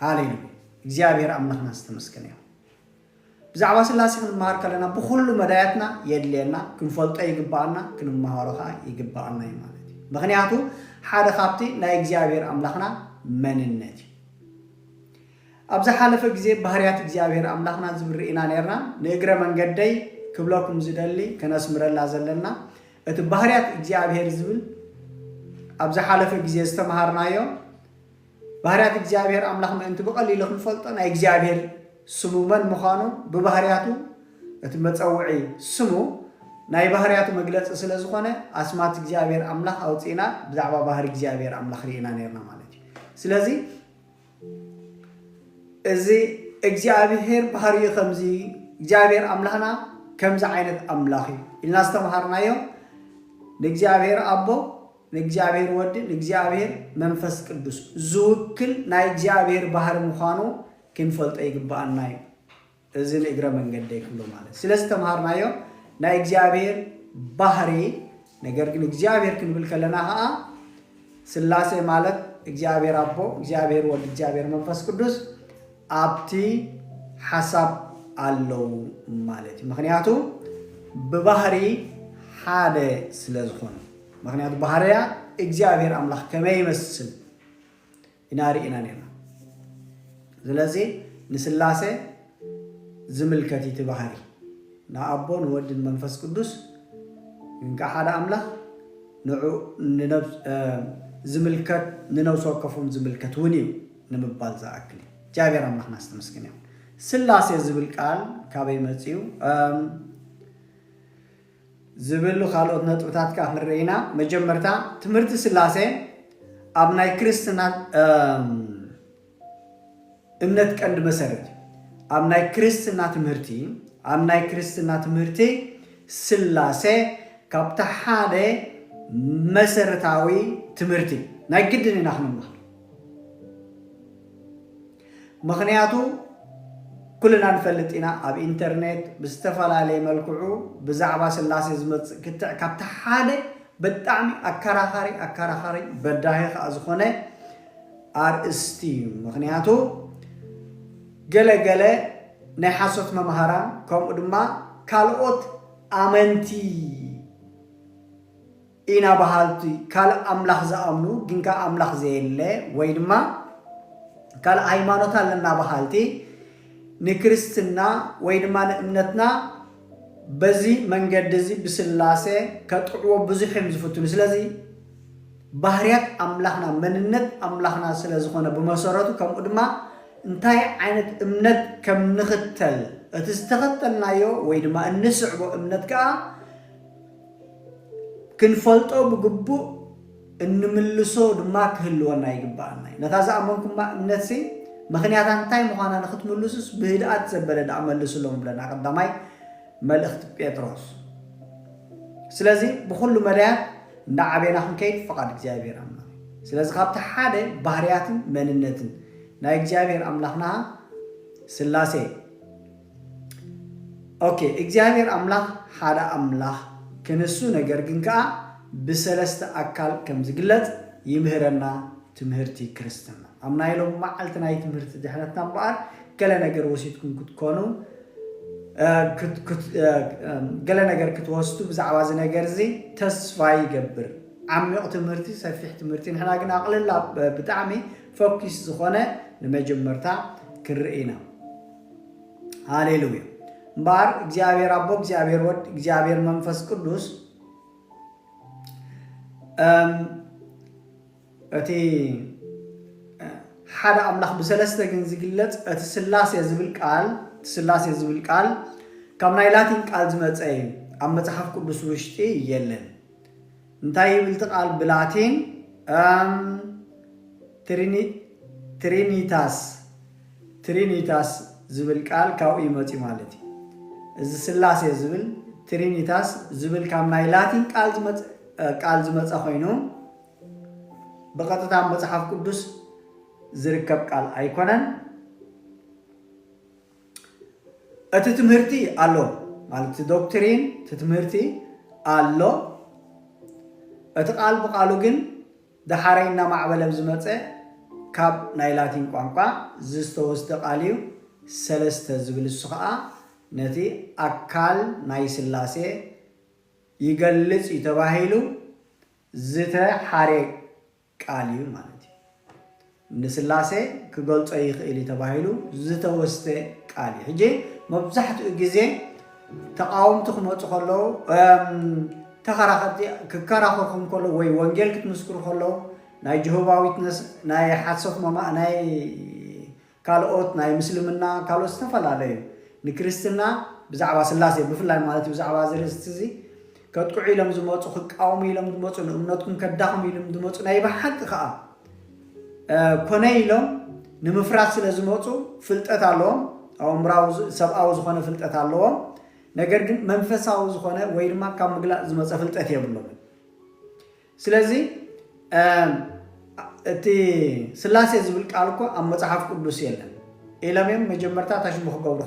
ሃሌሉያ እግዚኣብሔር ኣምላክና ዝተመስገነ ይኹን ብዛዕባ ስላሴ ክንመሃር ከለና ብኹሉ መዳያትና የድልየና ክንፈልጦ ይግበኣና ክንመሃሮ ከዓ ይግበኣና እዩ ማለት እዩ ምክንያቱ ሓደ ካብቲ ናይ እግዚኣብሔር ኣምላክና መንነት እዩ ኣብ ዝሓለፈ ግዜ ባህርያት እግዚኣብሔር ኣምላክና ዝብል ርኢና ነርና ንእግረ መንገደይ ክብለኩም ዝደሊ ከነስምረላ ዘለና እቲ ባህርያት እግዚኣብሔር ዝብል ኣብ ዝሓለፈ ግዜ ዝተምሃርናዮ ባህርያት እግዚኣብሔር ኣምላኽ ምእንቲ ብቐሊሉ ክንፈልጦ ናይ እግዚኣብሔር ስሙ መን ምዃኑ ብባህርያቱ እቲ መጸውዒ ስሙ ናይ ባህርያቱ መግለጺ ስለ ዝኾነ ኣስማት እግዚኣብሔር ኣምላኽ ኣውጺእና ብዛዕባ ባህሪ እግዚኣብሔር ኣምላኽ ርኢና ነርና ማለት እዩ ስለዚ እዚ እግዚኣብሔር ባህሪኡ ከምዚ እግዚኣብሔር ኣምላኽና ከምዚ ዓይነት ኣምላኽ እዩ ኢልና ዝተምሃርናዮ ንእግዚኣብሔር ኣቦ ንእግዚኣብሔር ወዲ ንእግዚኣብሔር መንፈስ ቅዱስ ዝውክል ናይ እግዚኣብሔር ባህሪ ምዃኑ ክንፈልጦ ይግብኣና እዩ። እዚ ንእግረ መንገደይ ክብሎ ማለት ስለ ዝተምሃርናዮ ናይ እግዚኣብሔር ባህሪ ነገር ግን እግዚኣብሔር ክንብል ከለና ከዓ ስላሴ ማለት እግዚኣብሔር ኣቦ፣ እግዚኣብሔር ወዲ፣ እግዚኣብሔር መንፈስ ቅዱስ ኣብቲ ሓሳብ ኣለው ማለት እዩ። ምክንያቱ ብባህሪ ሓደ ስለ ዝኾኑ ምኽንያቱ ባህርያ እግዚኣብሔር ኣምላኽ ከመይ ይመስል ኢና ርኢና ነርና። ስለዚ ንስላሴ ዝምልከት እቲ ባህሪ ንኣቦ ንወድን መንፈስ ቅዱስ እንካ ሓደ ኣምላኽ ዝምልከት ንነብሲ ወከፎም ዝምልከት እውን እዩ ንምባል ዝኣክል እዩ። እግዚኣብሔር ኣምላኽና ዝተመስገነ ይኹን። ስላሴ ዝብል ቃል ካበይ መፅኡ? ዝብሉ ካልኦት ነጥብታት ከኣ ክንርኢ ኢና። መጀመርታ ትምህርቲ ስላሴ ኣብ ናይ ክርስትና እምነት ቀንዲ መሰረት እዩ። ኣብ ናይ ክርስትና ትምህርቲ ኣብ ናይ ክርስትና ትምህርቲ ስላሴ ካብቲ ሓደ መሰረታዊ ትምህርቲ ናይ ግድን ኢና ክንምሃር ምኽንያቱ ኩልና ንፈልጥ ኢና ኣብ ኢንተርኔት ብዝተፈላለየ መልክዑ ብዛዕባ ስላሴ ዝመጽእ ክትዕ ካብቲ ሓደ ብጣዕሚ ኣከራኻሪ ኣከራኻሪ በዳሂ ከኣ ዝኾነ ኣርእስቲ እዩ ምኽንያቱ ገለ ገለ ናይ ሓሶት መምሃራን ከምኡ ድማ ካልኦት ኣመንቲ ኢና በሃልቲ ካልእ ኣምላኽ ዝኣምኑ ግን ከኣ ኣምላኽ ዘየለ ወይ ድማ ካልእ ሃይማኖት ኣለና በሃልቲ ንክርስትና ወይ ድማ ንእምነትና በዚ መንገዲ እዚ ብስላሴ ከጥዕዎ ብዙሕ እዮም ዝፍትኑ ስለዚ ባህርያት ኣምላኽና መንነት ኣምላኽና ስለ ዝኾነ ብመሰረቱ ከምኡ ድማ እንታይ ዓይነት እምነት ከም ንኽተል እቲ ዝተኸተልናዮ ወይ ድማ እንስዕቦ እምነት ከዓ ክንፈልጦ ብግቡእ እንምልሶ ድማ ክህልወና ይግበኣና እዩ። ነታ ዝኣመንኩማ እምነትሲ ምኽንያታ እንታይ ምዃና ንኽትምልሱስ ብህድኣት ዘበለ ደኣ መልሱሎም ብለና ቀዳማይ መልእኽቲ ጴጥሮስ። ስለዚ ብኹሉ መዳያት እንዳዓቤና ክንከይድ ፍቓድ እግዚኣብሔር ኣምላኽ እዩ። ስለዚ ካብቲ ሓደ ባህርያትን መንነትን ናይ እግዚኣብሔር ኣምላኽና ስላሴ ok እግዚኣብሔር ኣምላኽ ሓደ ኣምላኽ ክንሱ ነገር ግን ከኣ ብሰለስተ ኣካል ከም ዝግለጽ ይምህረና ትምህርቲ ክርስትና ኣብ ናይ ሎሚ መዓልቲ ናይ ትምህርቲ ድሕነትና እምበኣር ገለ ነገር ወሲድኩም ክትኮኑ ገለ ነገር ክትወስዱ ብዛዕባ እዚ ነገር እዚ ተስፋ ይገብር ዓሚቕ ትምህርቲ ሰፊሕ ትምህርቲ ንሕና ግን ኣቕልላ ብጣዕሚ ፈኪስ ዝኾነ ንመጀመርታ ክንርኢ ኢና ሃሌሉያ እምበኣር እግዚኣብሔር ኣቦ እግዚኣብሔር ወድ እግዚኣብሔር መንፈስ ቅዱስ እቲ ሓደ ኣምላኽ ብሰለስተ ግን ዝግለፅ እቲ ስላሴ ዝብል ቃል እቲ ስላሴ ዝብል ቃል ካብ ናይ ላቲን ቃል ዝመፀ እዩ ኣብ መፅሓፍ ቅዱስ ውሽጢ የለን እንታይ ይብል እቲ ቃል ብላቲን? እም ትሪኒ ትሪኒታስ Trinitas ዝብል ቃል ካብኡ እዩ መጺኡ ማለት እዩ። እዚ ስላሴ ዝብል ትሪኒታስ ዝብል ካብ ናይ ላቲን ቃል ዝመጸ ቃል ዝመጸ ኮይኑ ብቐጥታ መጽሓፍ ቅዱስ ዝርከብ ቃል ኣይኮነን። እቲ ትምህርቲ ኣሎ ማለት እቲ ዶክትሪን እቲ ትምህርቲ ኣሎ እቲ ቃል ብቃሉ ግን ደሓረይ እናማዕበለ ብዝመፀ ካብ ናይ ላቲን ቋንቋ ዝተወስደ ቃል እዩ ሰለስተ ዝብል እሱ ከዓ ነቲ ኣካል ናይ ስላሴ ይገልፅ እዩ ተባሂሉ ዝተሓረ ቃል እዩ ማለት እዩ። ንስላሴ ክገልጾ ይኽእል እዩ ተባሂሉ ዝተወስደ ቃል እዩ። ሕጂ መብዛሕትኡ ግዜ ተቓወምቲ ክመፁ ከለዉ ተኸራኸርቲ ክከራኸርኩም ከለዉ ወይ ወንጌል ክትምስክሩ ከለዉ ናይ ጅሆባ ዊትነስ ናይ ሓሶት ናይ ካልኦት ናይ ምስልምና ካልኦት ዝተፈላለዩ ንክርስትና ብዛዕባ ስላሴ ብፍላይ ማለት እዩ ብዛዕባ እዚ ርእስቲ እዚ ከጥቅዑ ኢሎም ዝመፁ ክቃወሙ ኢሎም ዝመፁ ንእምነትኩም ከዳኽሙ ኢሎም ዝመፁ ናይ ብሓቂ ከዓ ኮነ ኢሎም ንምፍራስ ስለ ዝመፁ ፍልጠት ኣለዎም ኣእምራዊ ሰብኣዊ ዝኾነ ፍልጠት ኣለዎም ነገር ግን መንፈሳዊ ዝኾነ ወይ ድማ ካብ ምግላፅ ዝመፀ ፍልጠት የብሎምን ስለዚ እቲ ስላሴ ዝብል ቃል እኮ ኣብ መጽሓፍ ቅዱስ የለን ኢሎም እዮም መጀመርታ ታሽሙ ክገብሩ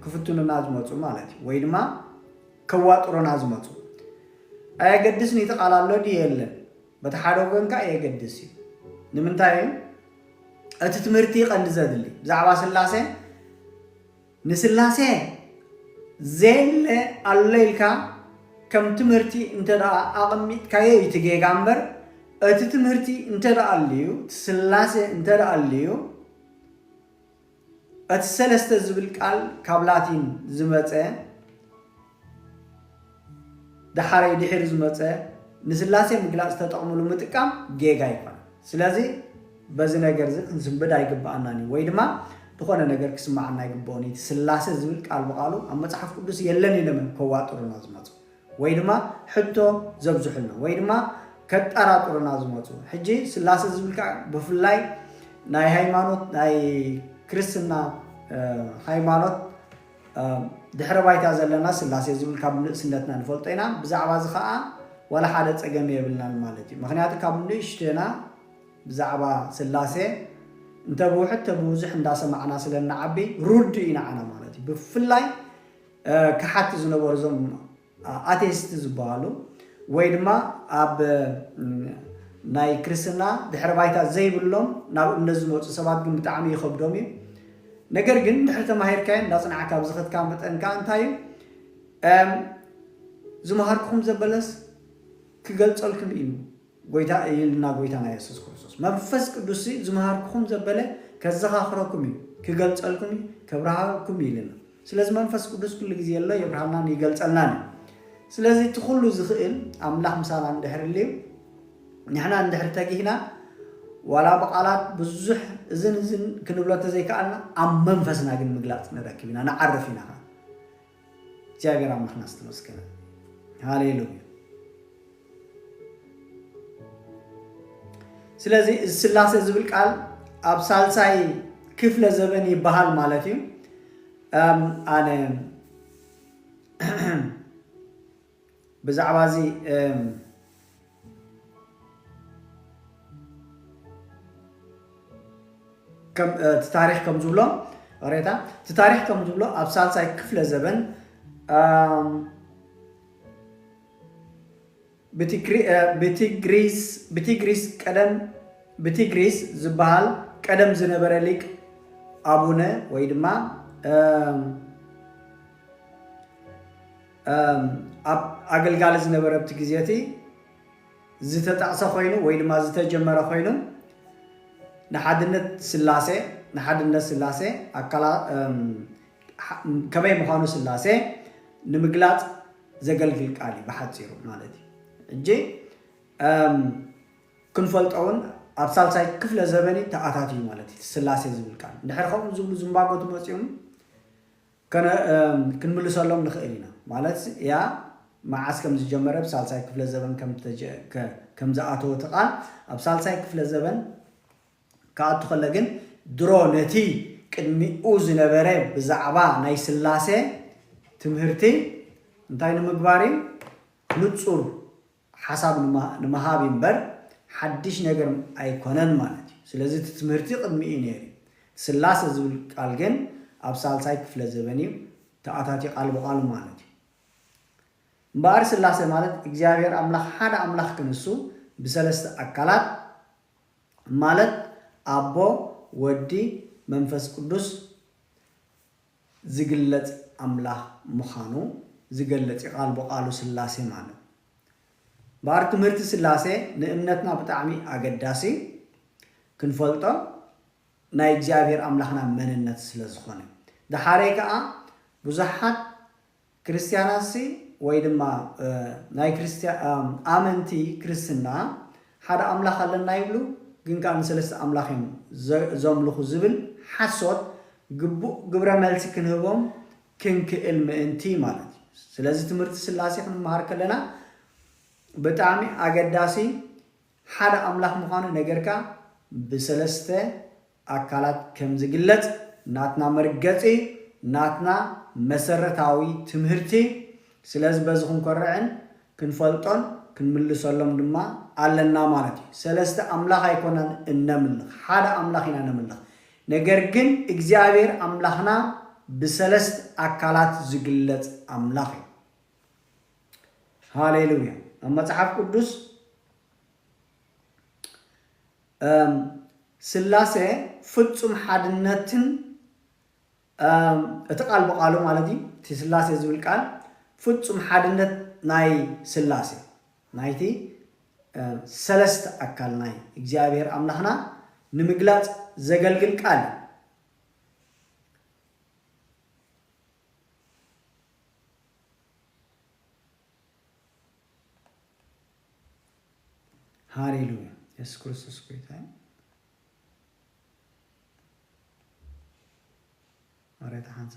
ክፍትኑና ዝመፁ ማለት እዩ ወይ ድማ ከዋጥሩና ዝመፁ ኣየገድስን እቲ ቃል ኣሎ ድዩ የለን በቲ ሓደ ወገን ከዓ የገድስ እዩ ንምንታይ እቲ ትምህርቲ ቀንዲ ዘድሊ ብዛዕባ ስላሴ ንስላሴ ዘየለ ኣሎ ኢልካ ከም ትምህርቲ እንተድኣ ኣቐሚጥካዮ እዩ እቲ ጌጋ እምበር እቲ ትምህርቲ እንተድኣ ኣልዩ እቲ ስላሴ እንተድኣ ኣልዩ እቲ ሰለስተ ዝብል ቃል ካብ ላቲን ዝመጸ ደሓረይ ድሒሩ ዝመጸ ንስላሴ ምግላጽ ተጠቕምሉ ምጥቃም ጌጋ ይኾን ስለዚ በዚ ነገር እዚ ክንስንብድ ኣይግብኣናን እዩ ወይ ድማ ዝኾነ ነገር ክስምዓና ኣይግብኦን እዩ እቲ ስላሴ ዝብል ቃል ብቓሉ ኣብ መጽሓፍ ቅዱስ የለን ኢሎም እዮም ከዋጥሩና ዝመጹ ወይ ድማ ሕቶ ዘብዝሑልና ወይ ድማ ከጠራጥሩና ዝመጹ ሕጂ ስላሴ ዝብል ቃል ብፍላይ ናይ ሃይማኖት ናይ ክርስትና ሃይማኖት ኣብ ድሕረ ባይታ ዘለና ስላሴ ዝብል ካብ ንእስነትና ንፈልጦ ኢና። ብዛዕባ እዚ ከኣ ዋላ ሓደ ጸገም የብልናን ማለት እዩ። ምኽንያቱ ካብ ንእሽቶና ብዛዕባ ስላሴ እንተ ብውሕድ እተ ብብዙሕ እንዳ ሰማዕና ስለ እንዓቢ ርዱእ እዩ ንዓና ማለት እዩ። ብፍላይ ከሓድቲ ዝነበሩ እዞም ኣቴስት ዝበሃሉ ወይ ድማ ኣብ ናይ ክርስትና ድሕረ ባይታ ዘይብሎም ናብ እምነት ዝመፁ ሰባት ግን ብጣዕሚ ይኸብዶም እዩ። ነገር ግን ድሕሪ ተማሂርካዮ እንዳፅናዕካ ኣብ ዝኸትካ መጠን ከዓ እንታይ እዩ ዝመሃርኩኹም ዘበለስ ክገልፀልኩም እዩ። ጐይታ እይልና ጐይታና የሱስ ክርስቶስ መንፈስ ቅዱስሲ ዝመሃርኩኹም ዘበለ ከዘኻኽረኩም እዩ ክገልጸልኩም እዩ ከብርሃኩም እዩ ኢልና ስለዚ መንፈስ ቅዱስ ኩሉ ግዜ ኣሎ የብርሃልናን ይገልጸልናን እዩ ስለዚ እቲ ኩሉ ዝኽእል ኣምላኽ ምሳና እንድሕር ልዩ ንሕና እንድሕር ተጊህና ዋላ ብቓላት ብዙሕ እዝን እዝን ክንብሎ ተዘይከኣልና ኣብ መንፈስና ግን ምግላፅ ንረክብ ኢና ንዓርፍ ኢና ከዓ እግዚኣብሔር ኣምላኽና ዝተመስገነ ሃሌሉያ ስለዚ እዚ ስላሴ ዝብል ቃል ኣብ ሳልሳይ ክፍለ ዘበን ይበሃል ማለት እዩ ኣነ ብዛዕባ እዚ እቲ ታሪኽ ከም ዝብሎ ሬታ እቲ ታሪኽ ከም ዝብሎ ኣብ ሳልሳይ ክፍለ ዘበን ብቲግሪስ ቀደም ብቲግሪስ ዝበሃል ቀደም ዝነበረ ሊቅ ኣቡነ ወይ ድማ ኣብ ኣገልጋሊ ዝነበረብቲ ግዜ እቲ ዝተጠቕሰ ኮይኑ ወይ ድማ ዝተጀመረ ኮይኑ ንሓድነት ስላሴ ንሓድነት ስላሴ ከመይ ምዃኑ ስላሴ ንምግላፅ ዘገልግል ቃል እዩ ብሓፂሩ ማለት እዩ እጂ ክንፈልጦውን ኣብ ሳልሳይ ክፍለ ዘበን ተኣታትዩ ማለት እዩ ስላሴ ዝብል ቃል እንድሕር ከምኡ ዝብሉ ዝንባጎ ትመፅኡም ከነ ክንምልሰሎም ንኽእል ኢና። ማለት እያ መዓስ ከም ዝጀመረ፣ ብ ሳልሳይ ክፍለ ዘበን ከም ከም ዝኣተወ እቲ ቃል ኣብ ሳልሳይ ክፍለ ዘበን ክኣቱ ከሎ ግን ድሮ ነቲ ቅድሚኡ ዝነበረ ብዛዕባ ናይ ስላሴ ትምህርቲ እንታይ ንምግባር እዩ ንጹር ሓሳብ ንምሃብ እዩ እምበር ሓድሽ ነገር ኣይኮነን ማለት እዩ። ስለዚ እቲ ትምህርቲ ቅድሚ እዩ ነይሩ እዩ። እቲ ስላሰ ዝብል ቃል ግን ኣብ ሳልሳይ ክፍለ ዘበን እዩ ተኣታትዩ ቃል ብቓሉ ማለት እዩ። እምበኣር ስላሰ ማለት እግዚኣብሔር ኣምላኽ ሓደ ኣምላኽ ክንሱ ብሰለስተ ኣካላት ማለት ኣቦ፣ ወዲ፣ መንፈስ ቅዱስ፣ ዝግለጽ ኣምላኽ ምኻኑ ዝገልጽ እዩ ቃል ብቓሉ ስላሴ ማለት እምበኣር ትምህርቲ ስላሴ ንእምነትና ብጣዕሚ ኣገዳሲ ክንፈልጦ ናይ እግዚኣብሔር ኣምላኽና መንነት ስለዝኾነ ደሓሬ ከኣ ብዙሓት ክርስትያናትሲ ወይ ድማ ናይ ክርስትያ ኣመንቲ ክርስትና ሓደ ኣምላኽ ኣለና ይብሉ ግን ከኣ ንሰለስተ ኣምላኽ እዮም ዘምልኹ ዝብል ሓሶት ግቡእ ግብረ መልሲ ክንህቦም ክንክእል ምእንቲ ማለት እዩ። ስለዚ ትምህርቲ ስላሴ ክንመሃር ከለና ብጣዕሚ ኣገዳሲ ሓደ ኣምላኽ ምዃኑ ነገርካ ብሰለስተ ኣካላት ከም ዝግለጽ ናትና መርገጺ ናትና መሰረታዊ ትምህርቲ ስለዚ በዚ ክንኮርዕን ክንፈልጦን ክንምልሰሎም ድማ ኣለና ማለት እዩ። ሰለስተ ኣምላኽ ኣይኮናን እነምልኽ ሓደ ኣምላኽ ኢና ነምልኽ ነገር ግን እግዚኣብሔር ኣምላኽና ብሰለስት ኣካላት ዝግለጽ ኣምላኽ እዩ። ሃሌሉያ ኣብ መጽሓፍ ቅዱስ እም ስላሴ ፍጹም ሓድነትን እም እቲ ቃል ብቓሉ ማለት እዩ እቲ ስላሴ ዝብል ቃል ፍጹም ሓድነት ናይ ስላሴ ናይቲ እም ሰለስተ ኣካል ናይ እግዚኣብሔር ኣምላኽና ንምግላጽ ዘገልግል ቃል እዩ። ሃሌሉያ የሱስ ክርስቶስ ጎይታ እዩ። መሬት ሓንሳ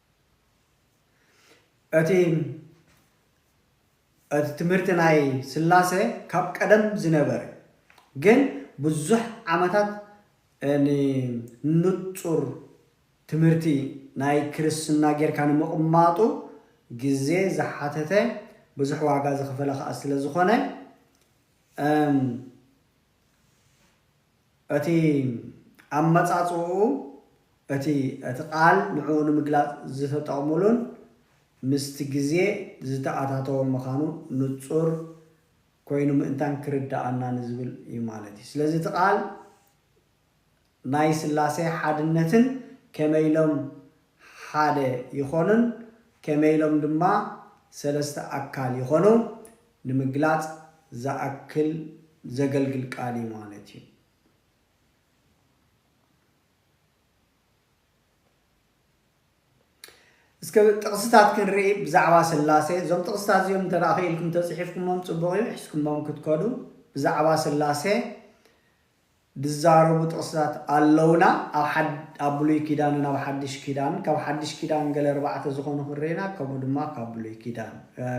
እቲ እቲ ትምህርቲ ናይ ስላሰ ካብ ቀደም ዝነበረ ግን ብዙሕ ዓመታት ን ንጹር ትምህርቲ ናይ ክርስትና ጌርካ ንምቕማጡ ግዜ ዝሓተተ ብዙሕ ዋጋ ዝኸፈለ ከኣ ስለ ዝኾነ እም እቲ ኣመጻጽእኡ እቲ እቲ ቃል ንዕኡ ንምግላጽ ዝተጠቕሙሉን ምስቲ ግዜ ዝተኣታተወን ምኻኑ ንጹር ኮይኑ ምእንታን ክርድኣና ንዝብል እዩ ማለት እዩ። ስለዚ እቲ ቃል ናይ ሥላሴ ሓድነትን ከመይ ኢሎም ሓደ ይኾኑን ከመይ ኢሎም ድማ ሠለስተ ኣካል ይኾኑ ንምግላጽ ዝኣክል ዘገልግል ቃል እዩ ማለት እዩ። እስከ ጥቕስታት ክንርኢ ብዛዕባ ሥላሴ። እዞም ጥቕስታት እዚኦም እንተ ክኢልኩም ተጽሒፍኩሞም ጽቡቕ እዩ፣ ሒዝኩሞም ክትከዱ ብዛዕባ ሥላሴ ድዛረቡ ጥቕስታት ኣለዉና ኣብ ኣብ ብሉይ ኪዳንን ኣብ ሓድሽ ኪዳን ካብ ሓድሽ ኪዳን ገለ ኣርባዕተ ዝኾኑ ክንርኢ ኢና ከምኡ ድማ ካብ ብሉይ ኪዳን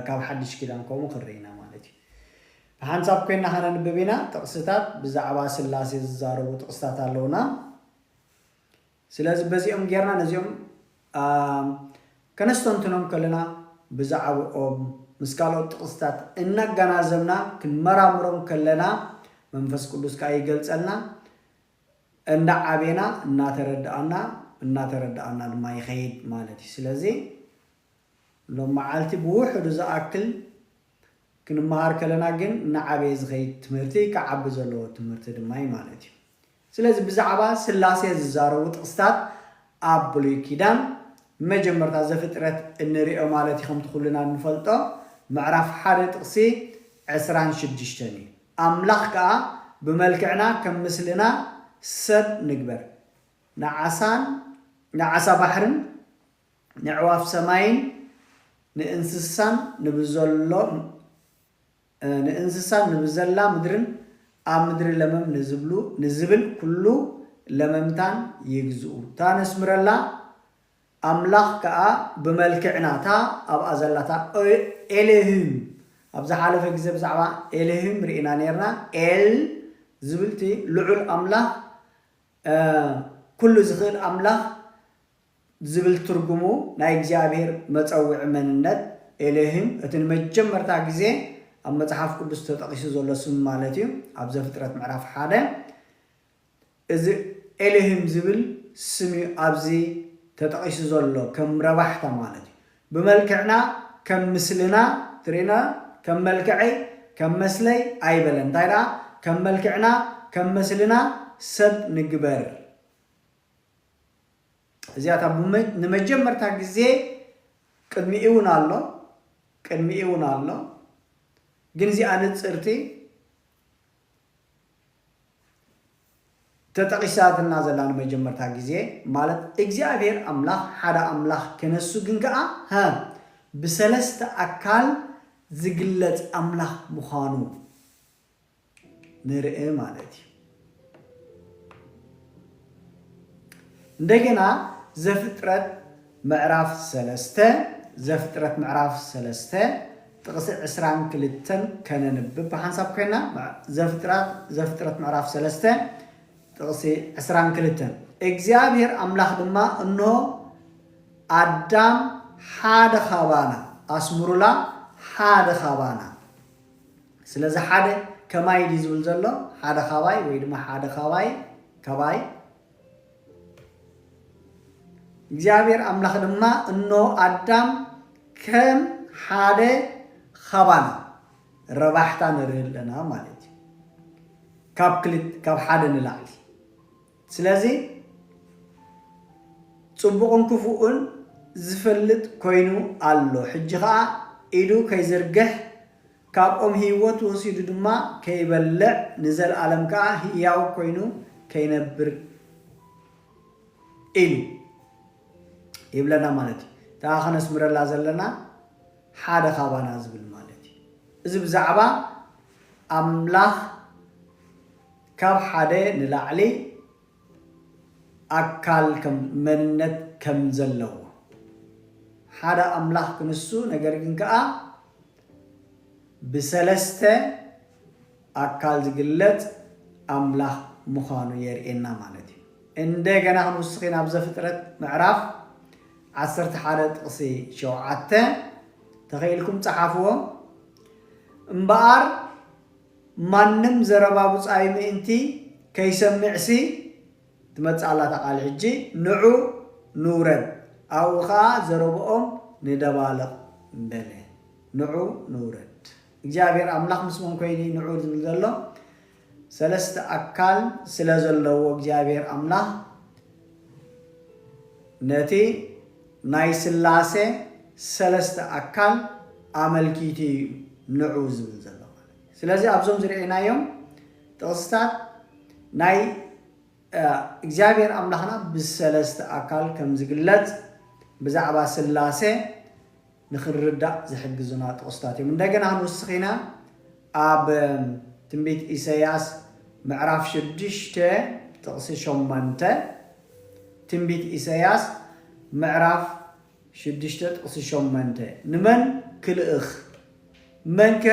ካብ ሓድሽ ኪዳን ከምኡ ክንርኢ ኢና ማለት እዩ ብሓንሳብ ኮይና ከነንብብ ኢና ጥቕስታት ብዛዕባ ስላሴ ዝዛረቡ ጥቕስታት ኣለዉና ስለዚ በዚኦም ጌርና ነዚኦም ከነስተንትኖም ከለና ብዛዕብኦም ምስ ካልኦት ጥቕስታት እናጋናዘብና ክንመራምሮም ከለና መንፈስ ቅዱስ ከኣ ይገልጸልና እንዳ ዓቤና እናተረድኣና እናተረድኣና ድማ ይኸይድ ማለት እዩ ስለዚ ሎም መዓልቲ ብውሕዱ ዝኣክል ክንመሃር ከለና ግን እናዓበየ ዝኸይድ ትምህርቲ ክዓቢ ዘለዎ ትምህርቲ ድማ እዩ ማለት እዩ ስለዚ ብዛዕባ ስላሴ ዝዛረቡ ጥቕስታት ኣብ ብሉይ ኪዳን፣ መጀመርታ ዘፍጥረት እንርእዮ ማለት እዩ ከምቲ ኩልና እንፈልጦ ምዕራፍ ሓደ ጥቕሲ ዕስራን ሽዱሽተን እዩ። ኣምላኽ ከኣ ብመልክዕና ከም ምስልና ሰብ ንግበር። ንዓሳን ንዓሳ ባሕርን ነዕዋፍ ሰማይን ንእንስሳን ንብዘሎ ንእንስሳን ንብዘላ ምድርን ኣብ ምድሪ ለመም ንዝብሉ ንዝብል ኵሉ ለመምታን ይግዝኡ። እታ ነስምረላ ኣምላኽ ከኣ ብመልክዕና እታ ኣብኣ ዘላ እታ ኤሎሂም ኣብ ዝሓለፈ ግዜ ብዛዕባ ኤሎሂም ርኢና ኔርና ኤል ዝብል እቲ ልዑል ኣምላኽ ኵሉ ዝኽእል ኣምላኽ ዝብል ትርጉሙ ናይ እግዚኣብሄር መጸውዒ መንነት፣ ኤሎሂም፣ እቲ ንመጀመርታ ግዜ ኣብ መጽሓፍ ቅዱስ ተጠቒሱ ዘሎ ስም ማለት እዩ፣ ኣብ ዘፍጥረት ምዕራፍ ሓደ። እዚ ኤሎሂም ዝብል ስም እዩ ኣብዚ ተጠቒሱ ዘሎ፣ ከም ረባሕታ ማለት እዩ። ብመልክዕና ከም ምስልና፣ ትርእዩና፣ ከም መልክዐይ፣ ከም መስለይ ኣይበለን፣ እንታይ ደኣ ከም መልክዕና፣ ከም መስልና፣ ሰብ ንግበር። እዚኣ እታ ንመጀመርታ ግዜ ቅድሚኡ እውን ኣሎ ቅድሚኡ እውን ኣሎ ግን እዚኣ ንጽርቲ ተጠቒሳትና ዘላ ንመጀመርታ ግዜ ማለት እግዚኣብሔር ኣምላኽ ሓደ ኣምላኽ ክነሱ ግን ከኣ ሀ ብሰለስተ ኣካል ዝግለጽ ኣምላኽ ምዃኑ ንርእ ማለት እዩ። እንደገና ዘፍጥረት ምዕራፍ ሰለስተ ዘፍጥረት ምዕራፍ ሰለስተ ጥቕሲ ዕስራን ክልተን ከነንብብ ብሓንሳብ ኮይና ዘፍጥረት ዘፍጥረት ምዕራፍ ሰለስተ ጥቕሲ ዕስራን ክልተን እግዚኣብሔር ኣምላኽ ድማ እንሆ ኣዳም ሓደ ካባና ኣስምሩላ ሓደ ካባና ስለዚ ሓደ ከማይ ድዩ ዝብል ዘሎ ሓደ ካባይ ወይ ድማ ሓደ ካባይ ካባይ እግዚኣብሔር ኣምላኽ ድማ እነሆ ኣዳም ከም ሓደ ካባና ረባሕታ ንርኢ ኣለና ማለት እዩ ካብ ክልት ካብ ሓደ ንላዕሊ ስለዚ ጽቡቕን ክፉእን ዝፈልጥ ኮይኑ ኣሎ ሕጂ ከዓ ኢዱ ከይዝርግሕ ካብ ኦም ህይወት ወሲዱ ድማ ከይበልዕ ንዘልኣለም ከኣ ህያው ኮይኑ ከይነብር ኢሉ ይብለና ማለት እዩ። እታ ከነስምረላ ዘለና ሓደ ካባና ዝብል ማለት እዩ። እዚ ብዛዕባ ኣምላኽ ካብ ሓደ ንላዕሊ ኣካል ከም መንነት ከም ዘለዎ ሓደ ኣምላኽ ክንሱ ነገር ግን ከኣ ብሰለስተ ኣካል ዝግለጽ ኣምላኽ ምዃኑ የርእየና ማለት እዩ። እንደገና ክንውስኺ ናብ ዘፍጥረት ምዕራፍ ዓሰርተ ሓደ ጥቕሲ ሸውዓተ ተኸኢልኩም ጸሓፍዎ እምበኣር ማንም ዘረባ ብጻዩ ምእንቲ ከይሰምዕሲ ትመጽእ ኣላ እታ ቃል ሕጂ ንዑ ንውረድ ኣብኡ ከኣ ዘረብኦም ንደባልቕ በለ ንዑ ንውረድ እግዚኣብሔር ኣምላኽ ምስኦም ኮይኑ እዩ ንዑ ዝብል ዘሎ ሰለስተ ኣካል ስለ ዘለዎ እግዚኣብሔር ኣምላኽ ነቲ ናይ ስላሴ ሰለስተ ኣካል ኣመልኪቱ እዩ ንዑ ዝብል ዘሎ ማለት እዩ ስለዚ ኣብዞም ዝርኤናዮም ጥቕስታት ናይ እግዚኣብሔር ኣምላኽና ብሰለስተ ኣካል ከም ዝግለጽ ብዛዕባ ስላሴ ንኽንርዳእ ዝሕግዙና ጥቕስታት እዮም። እንደገና ንውስኺና ኣብ ትንቢት ኢሰያስ ምዕራፍ ሽዱሽተ ጥቕሲ ሸሞንተ ትንቢት ኢሰያስ ምዕራፍ ሽዱሽተ ጥቕሲ ሸሞንተ ንመን ክልእኽ መንከ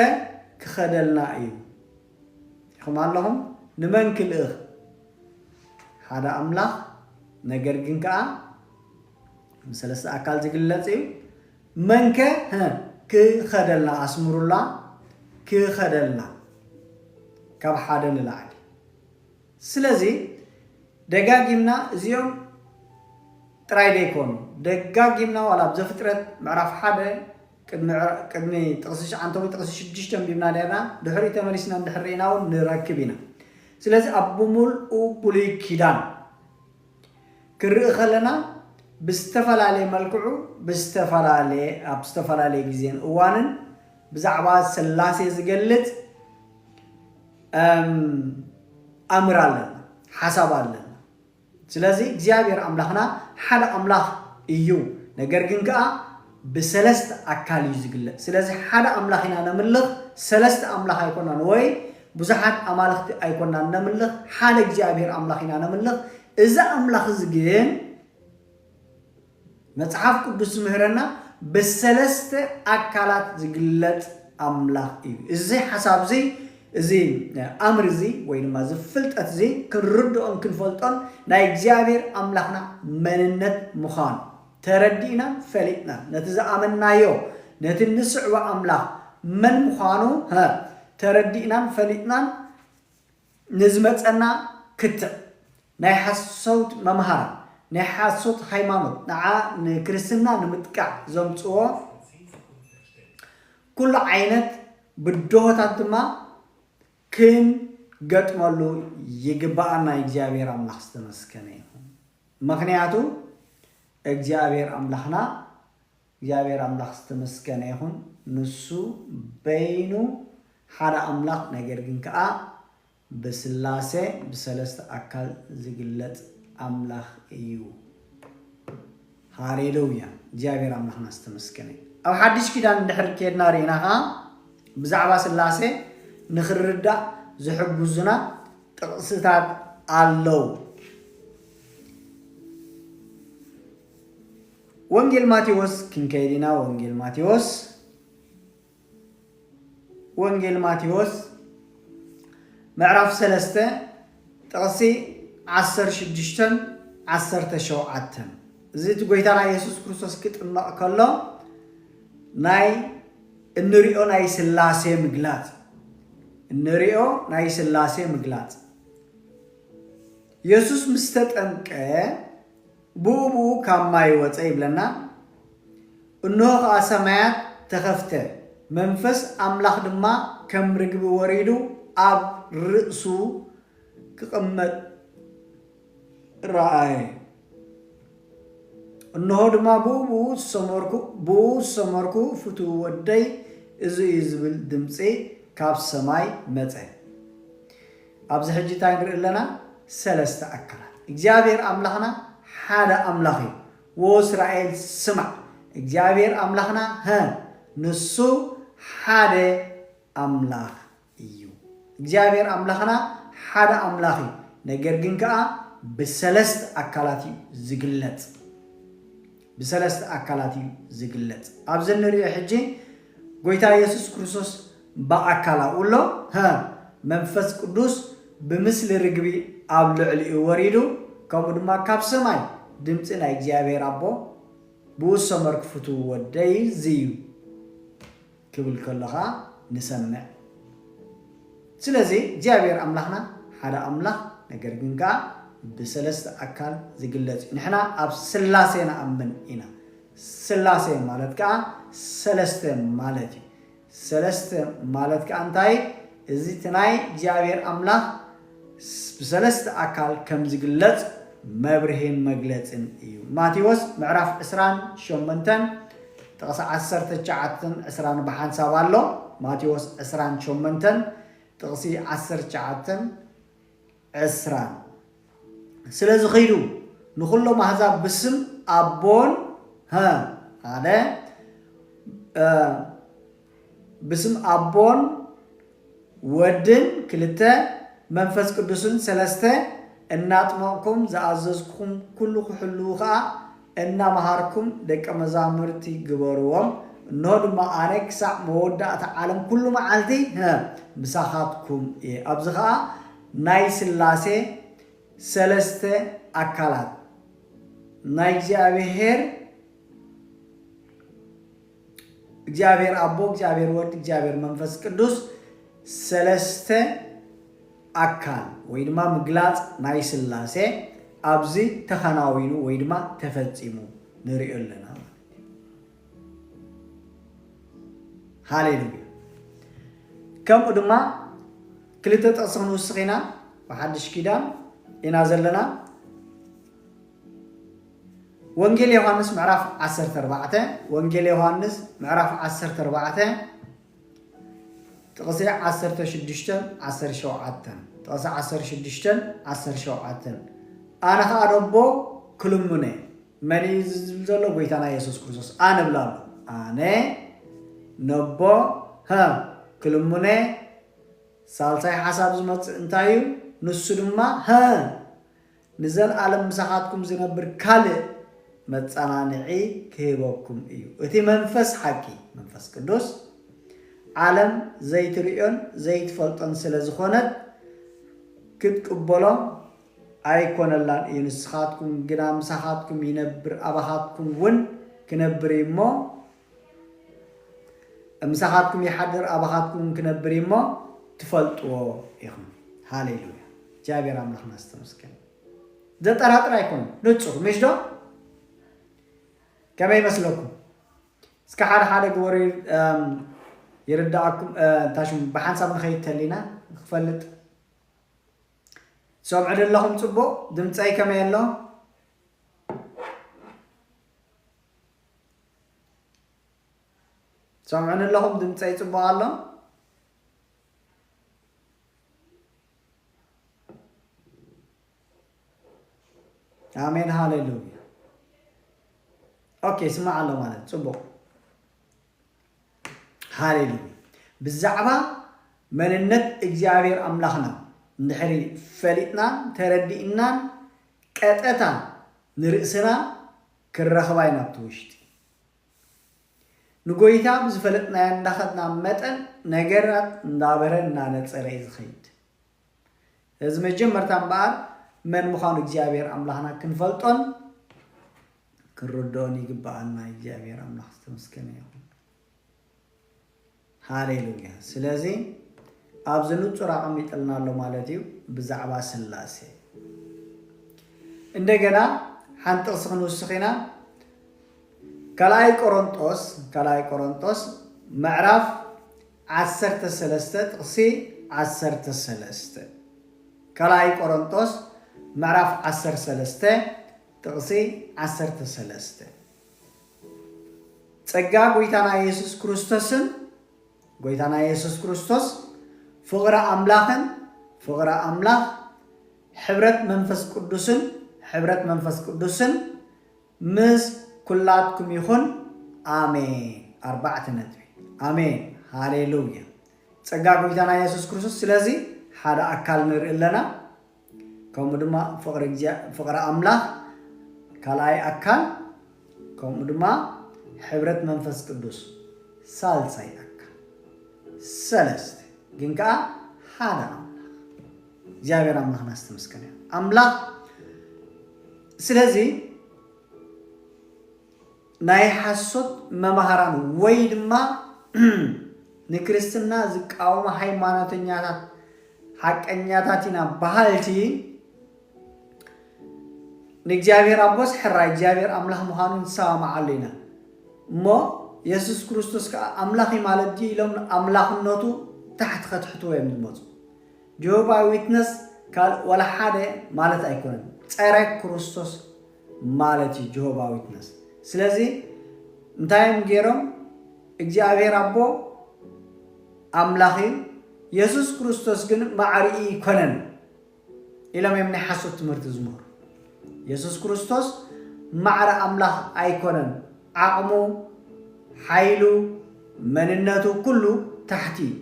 ክኸደልና እዩ? ኢኹም ኣለኹም ንመን ክልእኽ ሓደ ኣምላኽ ነገር ግን ከኣ ብሰለስተ ኣካል ዝግለጽ እዩ መንከ ክኸደልና ኣስምሩላ ክኸደልና ካብ ሓደ ንላዕሊ ስለዚ ደጋጊምና እዚኦም ጥራይ ደይኮኑ ደጋጊምና ዋላ ኣብ ዘፍጥረት ምዕራፍ ሓደ ቅድሚ ቅድሚ ጥቕሲ ትሽዓንተ ወይ ጥቕሲ ሽዱሽተ ኣንቢብና ኔርና፣ ድሕሪኡ ተመሊስና እንድሕር ርኢና ውን ንረክብ ኢና። ስለዚ ኣብ ብምልኡ ብሉይ ኪዳን ክንርኢ ከለና ብዝተፈላለየ መልክዑ ብዝተፈላለየ ኣብ ዝተፈላለየ ግዜን እዋንን ብዛዕባ ስላሴ ዝገልጽ ኣምር ኣለና፣ ሓሳብ ኣለና። ስለዚ እግዚኣብሔር ኣምላኽና ሓደ ኣምላኽ እዩ ነገር ግን ከኣ ብሰለስተ ኣካል እዩ ዝግለጽ ስለዚ ሓደ ኣምላኽ ኢና ነምልኽ ሰለስተ ኣምላኽ ኣይኮናን ወይ ብዙሓት ኣማልኽቲ ኣይኮናን ነምልኽ ሓደ እግዚኣብሔር ኣምላኽ ኢና ነምልኽ እዚ ኣምላኽ እዚ ግን መጽሓፍ ቅዱስ ዝምህረና ብሰለስተ ኣካላት ዝግለጽ ኣምላኽ እዩ። እዚ ሓሳብ እዚ እዚ ኣምር እዚ ወይ ድማ እዚ ፍልጠት እዚ ክንርድኦን ክንፈልጦን ናይ እግዚኣብሔር ኣምላኽና መንነት ምዃኑ ተረዲእናን ፈሊጥናን ነቲ ዝኣመንናዮ ነቲ እንስዕቦ ኣምላኽ መን ምዃኑ ተረዲእናን ፈሊጥናን ንዝመጸና ክትዕ ናይ ሓሶት መምሃራን ናይ ሓሶት ሃይማኖት ንዓ ንክርስትና ንምጥቃዕ ዘምጽዎ ኩሉ ዓይነት ብድሆታት ድማ ክንገጥመሉ ይግብኣና እግዚኣብሔር ኣምላኽ ዝተመስገነ ይኹን ምኽንያቱ እግዚኣብሔር ኣምላኽና እግዚኣብሔር ኣምላክ ዝተመስገነ ይኩን ንሱ በይኑ ሓደ ኣምላክ ነገር ግን ከኣ ብስላሴ ብሰለስተ ኣካል ዝግለጽ ኣምላክ እዩ ሃሌሉያ እግዚኣብሔር ኣምላክና ዝተመስገነ ኣብ ሓድሽ ኪዳን እንድሕር ከድና ርኢና ከኣ ብዛዕባ ስላሴ ንክርዳእ ዝሕግዙና ጥቅስታት ኣለው ወንጌል ማቴዎስ ክንከይድ ኢና ወንጌል ማቴዎስ ወንጌል ማቴዎስ ምዕራፍ ሰለስተ ጥቕሲ ዓሰርተ ሽዱሽተን ዓሰርተ ሸውዓተን እዚ እቲ ጎይታና የሱስ ክርስቶስ ክጥመቕ ከሎ ናይ እንሪኦ ናይ ስላሴ ምግላፅ እንሪኦ ናይ ስላሴ ምግላፅ የሱስ ምስ ተጠምቀ ብኡ ብኡ ካብ ማይ ወጸ ይብለና እንሆ ከኣ ሰማያት ተኸፍተ መንፈስ ኣምላኽ ድማ ከም ርግቢ ወሪዱ ኣብ ርእሱ ክቕመጥ ረኣየ እንሆ ድማ ብኡ ብኡ ዝሰመርኩ ብኡ ዝሰመርኩ ፍትው ወደይ እዚ እዩ ዝብል ድምጺ ካብ ሰማይ መጸ ኣብዚ ሕጂ እንታይ ንርኢ ኣለና ሰለስተ ኣካላት እግዚኣብሔር ኣምላኽና ሓደ ኣምላኽ እዩ ዎ እስራኤል ስማዕ እግዚኣብሔር ኣምላኽና ሀ ንሱ ሓደ ኣምላኽ እዩ እግዚኣብሔር ኣምላኽና ሓደ ኣምላኽ እዩ ነገር ግን ከኣ ብሰለስተ ኣካላት እዩ ዝግለጽ ብሰለስተ ኣካላት እዩ ዝግለጽ ኣብዚ ንሪኦ ሕጂ ጎይታ የሱስ ክርስቶስ ብኣካል ኣብኡ ኣሎ፣ ሀ፣ መንፈስ ቅዱስ ብምስሊ ርግቢ ኣብ ልዕሊኡ ወሪዱ፣ ከምኡ ድማ ካብ ሰማይ ድምጺ ናይ እግዚኣብሄር ኣቦ ብኡ ዝሰመርኩ ፍቱው ወደይ እዚ እዩ ክብል ከሎ ኸኣ ንሰምዕ። ስለዚ እግዚኣብሄር ኣምላኽና ሓደ ኣምላኽ ነገር ግን ከኣ ብሰለስተ ኣካል ዝግለጽ እዩ። ንሕና ኣብ ስላሴ ንኣምን ኢና። ሥላሴ ማለት ከኣ ሠለስተ ማለት እዩ። ሠለስተ ማለት ከኣ እንታይ እዚ እቲ ናይ እግዚኣብሔር ኣምላኽ ብሠለስተ ኣካል ከም ዝግለጽ መብርሂን መግለጽን እዩ። ማቴዎስ ምዕራፍ ዕስራን ሾመንተን ጥቕሲ ዓሰርተ ትሽዓተን ዕስራን ብሓንሳብ ኣሎ። ማቴዎስ ዕስራን ሾመንተን ጥቕሲ ዓሰርተ ትሽዓተን ዕስራ ስለ ዝኺዱ ንኹሎም ኣሕዛብ ብስም ኣቦን ሀ ሓደ ብስም ኣቦን ወድን ክልተ መንፈስ ቅዱስን ሰለስተ እናጥመቕኩም ዝኣዘዝኩም ኩሉ ክሕልዉ ኸኣ እናመሃርኩም ደቀ መዛሙርቲ ግበርዎም፣ እንሆ ድማ ኣነ ክሳዕ መወዳእታ ዓለም ኩሉ መዓልቲ ምሳኻትኩም እየ። ኣብዚ ኸኣ ናይ ስላሴ ሰለስተ ኣካላት ናይ እግዚኣብሔር፣ እግዚኣብሔር ኣቦ እግዚኣብሔር ወልድ እግዚኣብሔር መንፈስ ቅዱስ ሰለስተ ኣካል ወይ ድማ ምግላፅ ናይ ስላሴ ኣብዚ ተኸናዊኑ ወይ ድማ ተፈፂሙ ንሪኦ ኣለና ማለት ሃሌሉያ ከምኡ ድማ ክልተ ጥቕሲ ክንውስኽ ኢና ብሓድሽ ኪዳን ኢና ዘለና ወንጌል ዮሃንስ ምዕራፍ ዓሰርተ ኣርባዕተ ወንጌል ዮሃንስ ምዕራፍ ዓሰርተ ኣርባዕተ ጥቕሲ ዓሰርተ ሽዱሽተን ዓሰርተ ሸውዓተን ጥቕሲ ዓሰርተ ሽዱሽተን ዓሰርተ ሸውዓተን ኣነ ከዓ ነቦ ክልምነ መን እዩ ዝብል ዘሎ ጎይታና የሱስ ክርስቶስ ኣነ ብላ ኣሎ ኣነ ነቦ ሀ ክልምነ ሳልሳይ ሓሳብ ዝመፅእ እንታይ እዩ ንሱ ድማ ሀ ንዘልኣለም ምሳኻትኩም ዝነብር ካልእ መጸናንዒ ክህበኩም እዩ። እቲ መንፈስ ሓቂ፣ መንፈስ ቅዱስ፣ ዓለም ዘይትርእዮን ዘይትፈልጦን ስለ ዝኾነት ክትቅበሎ ኣይኮነላን እዩ። ንስኻትኩም ግና ምሳኻትኩም ይነብር፣ ኣባኻትኩም እውን ክነብር እዩ እሞ ምሳኻትኩም ይሓድር ኣባኻትኩምውን ክነብር እዩ እሞ ትፈልጥዎ ኢኹም ሃሌሉያ እግዚኣብሔር ኣምላኽና ዝተመስገነ ዘጠራጥር ኣይኮነን ንፁር ምሽ ዶ ከመይ ይመስለኩም እስከ ሓደ ሓደ ግበሩ ይርዳእኩም እንታይ ሽሙ ብሓንሳብ ንኸይድ ተሊና ንክፈልጥ ሰምዑ ዘለኹም ፅቡቕ ድምፀይ ከመይ ኣሎ ትሰምዑኒ ኣለኹም ድምፀይ ፅቡቕ ኣሎ ኣሜን ሃሌሉያ ኦኬ ስማዕ ኣሎ ማለት ፅቡቕ ሃሌሉያ ብዛዕባ መንነት እግዚኣብሔር ኣምላኽና እንድሕሪ ፈሊጥናን ተረዲእናን ቀጠታ ንርእስና ክንረኽባ ኢና ኣብቲ ውሽጢ ንጎይታ ብዝፈለጥናዮ እንዳኸድና መጠን ነገራት እንዳበረ እንዳነጸረ እዩ ዝኸይድ እዚ መጀመርታ እምበኣር መን ምዃኑ እግዚኣብሔር ኣምላኽና ክንፈልጦን ክንርድኦን ይግበኣና እግዚኣብሔር ኣምላኽ ዝተመስገነ ይኹን ሃሌሉያ ስለዚ ኣብዚ ንጹር ኣቐሚጥልና ኣሎ ማለት እዩ ብዛዕባ ስላሴ እንደገና ሓንቲ ጥቕሲ ክንውስኽ ኢና ካልኣይ ቆሮንጦስ ካልኣይ ቆሮንጦስ ምዕራፍ ዓሰርተ ሰለስተ ጥቕሲ ዓሰርተ ሰለስተ ካልኣይ ቆሮንጦስ ምዕራፍ ዓሰርተ ሰለስተ ጥቕሲ ዓሰርተ ሰለስተ ጸጋ ጎይታና የሱስ ክርስቶስን ጎይታና የሱስ ክርስቶስ ፍቕሪ ኣምላኽን ፍቕሪ ኣምላኽ ሕብረት መንፈስ ቅዱስን ሕብረት መንፈስ ቅዱስን ምስ ኩላትኩም ይኹን ኣሜን ኣርባዕተ ነጥቢ ኣሜን ሃሌሉያ ጸጋ ጎይታና የሱስ ክርስቶስ ስለዚ ሓደ ኣካል ንርኢ ኣለና ከምኡ ድማ ፍቕሪ እግዚኣብ ፍቕሪ ኣምላኽ ካልኣይ ኣካል ከምኡ ድማ ሕብረት መንፈስ ቅዱስ ሳልሳይ ኣካል ሰለስተ ግን ከዓ ሓደ ኣምላኽ እግዚኣብሔር ኣምላኽና ዝተመስገነ እዩ። ኣምላኽ ስለዚ ናይ ሓሶት መማህራን ወይ ድማ ንክርስትና ዝቃወሙ ሃይማኖተኛታት ሓቀኛታት ኢና በሃልቲ ንእግዚኣብሔር ኣቦስ ሕራይ እግዚኣብሔር ኣምላኽ ምዃኑ ንሰማምዓሉ ኢና እሞ የሱስ ክርስቶስ ከዓ ኣምላኽ ማለት ድዩ ኢሎም ኣምላኽነቱ ታሕቲ ከትሕትዎ እዮም ዝመፁ ጆሆባይ ዊትነስ ካልእ ዋላ ሓደ ማለት ኣይኮነን ፀረ ክርስቶስ ማለት እዩ ጅሆባ ዊትነስ ስለዚ እንታይ እዮም ገይሮም እግዚኣብሔር ኣቦ ኣምላኽ እዩ የሱስ ክርስቶስ ግን ማዕሪኢ ይኮነን ኢሎም እዮም ናይ ሓሶት ትምህርቲ ዝምህሩ የሱስ ክርስቶስ ማዕረ ኣምላኽ ኣይኮነን ዓቕሙ ሓይሉ መንነቱ ኩሉ ታሕቲ እዩ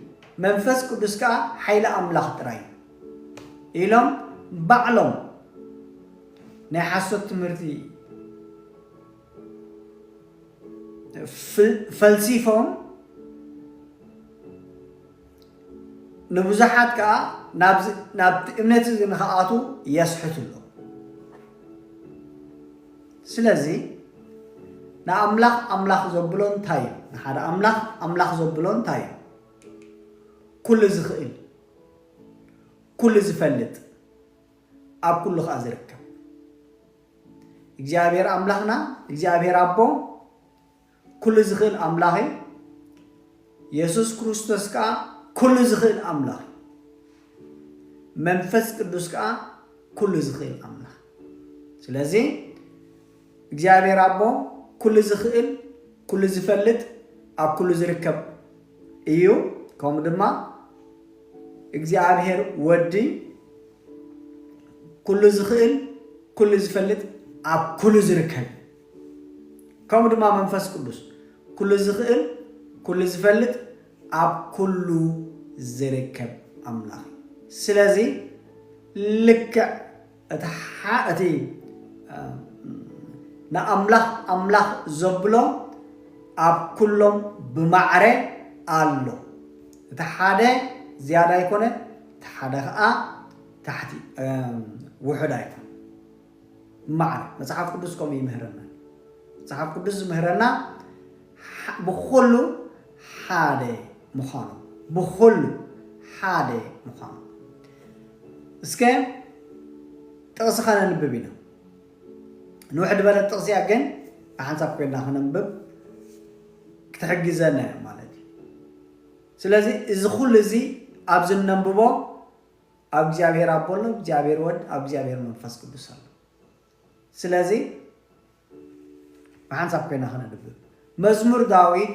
መንፈስ ቅዱስ ከዓ ሓይሊ ኣምላኽ ጥራይ እዩ ኢሎም ባዕሎም ናይ ሓሶት ትምህርቲ ፈልሲፎም ንብዙሓት ከዓ ናብቲ እምነት እዚ ንክኣቱ የስሕቱ ኣሎ ስለዚ ንኣምላኽ ኣምላኽ ዘብሎ እንታይ እዩ ንሓደ ኣምላኽ ኣምላኽ ዘብሎ እንታይ እዩ ኩሉ ዝኽእል ኩሉ ዝፈልጥ ኣብ ኩሉ ከኣ ዝርከብ እግዚኣብሔር ኣምላክና እግዚኣብሔር ኣቦ ኩሉ ዝክእል ኣምላክ እዩ የሱስ ክርስቶስ ከኣ ኩሉ ዝክእል ኣምላክ እዩ መንፈስ ቅዱስ ከኣ ኩሉ ዝክእል ኣምላክ ስለዚ እግዚኣብሔር ኣቦ ኩሉ ዝኽእል ኩሉ ዝፈልጥ ኣብ ኩሉ ዝርከብ እዩ ከምኡ ድማ እግዚኣብሔር ወዲ ኩሉ ዝኽእል ኩሉ ዝፈልጥ ኣብ ኩሉ ዝርከብ እዩ ከምኡ ድማ መንፈስ ቅዱስ ኩሉ ዝኽእል ኩሉ ዝፈልጥ ኣብ ኩሉ ዝርከብ ኣምላኽ እዩ ስለዚ ልክዕ እቲ ሓ እቲ ንኣምላኽ ኣምላኽ ዘብሎ ኣብ ኩሎም ብማዕረ ኣሎ እቲ ሓደ ዝያዳ ኣይኮነ እቲ ሓደ ከኣ ታሕቲ ውሑድ ኣይኮነ ብማዕረ መጽሓፍ ቅዱስ ከምኡ ይምህረና መጽሓፍ ቅዱስ ዝምህረና ብኹሉ ሓደ ምዃኑ ብኹሉ ሓደ ምዃኑ እስከ ጥቕሲ ከነንብብ ኢና ንውሕድ በለት ጥቕሲ እያ ግን ብሓንሳብ ኮይና ከነንብብ ክትሕግዘና እያ ማለት እዩ ስለዚ እዚ ኩሉ እዚ ኣብዚ እነንብቦ ኣብ እግዚኣብሔር ኣቦ ኣሎ እግዚኣብሔር ወድ ኣብ እግዚኣብሔር መንፈስ ቅዱስ ኣሎ ስለዚ ብሓንሳብ ኮይና ከነንብብ። መዝሙር ዳዊት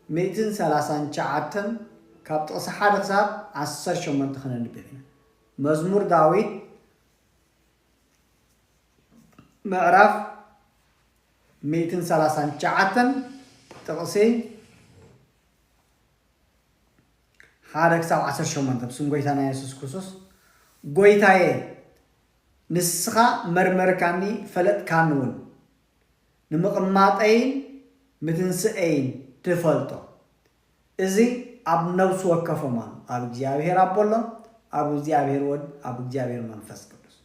ሚእትን ሰላሳን ትሽዓተን ካብ ጥቕሲ ሓደ ክሳብ ዓሰርተ ሸሞንተ ከነንብብ ኢና። መዝሙር ዳዊት ምዕራፍ ሚእትን ሰላሳን ትሽዓተን ጥቕሲ ሓደ ክሳብ ዓሰርተ ሸሞንተ ብስም ጎይታና የሱስ ክርስቶስ ጎይታየ ንስኻ መርመርካኒ ፈለጥካኒ እውን ንምቕማጠይን ምትንስኤይን ትፈልጦ እዚ ኣብ ነብሲ ወከፎም ኣሎ ኣብ እግዚኣብሔር ኣቦ ኣሎ ኣብ እግዚኣብሔር ወድ ኣብ እግዚኣብሔር መንፈስ ቅዱስ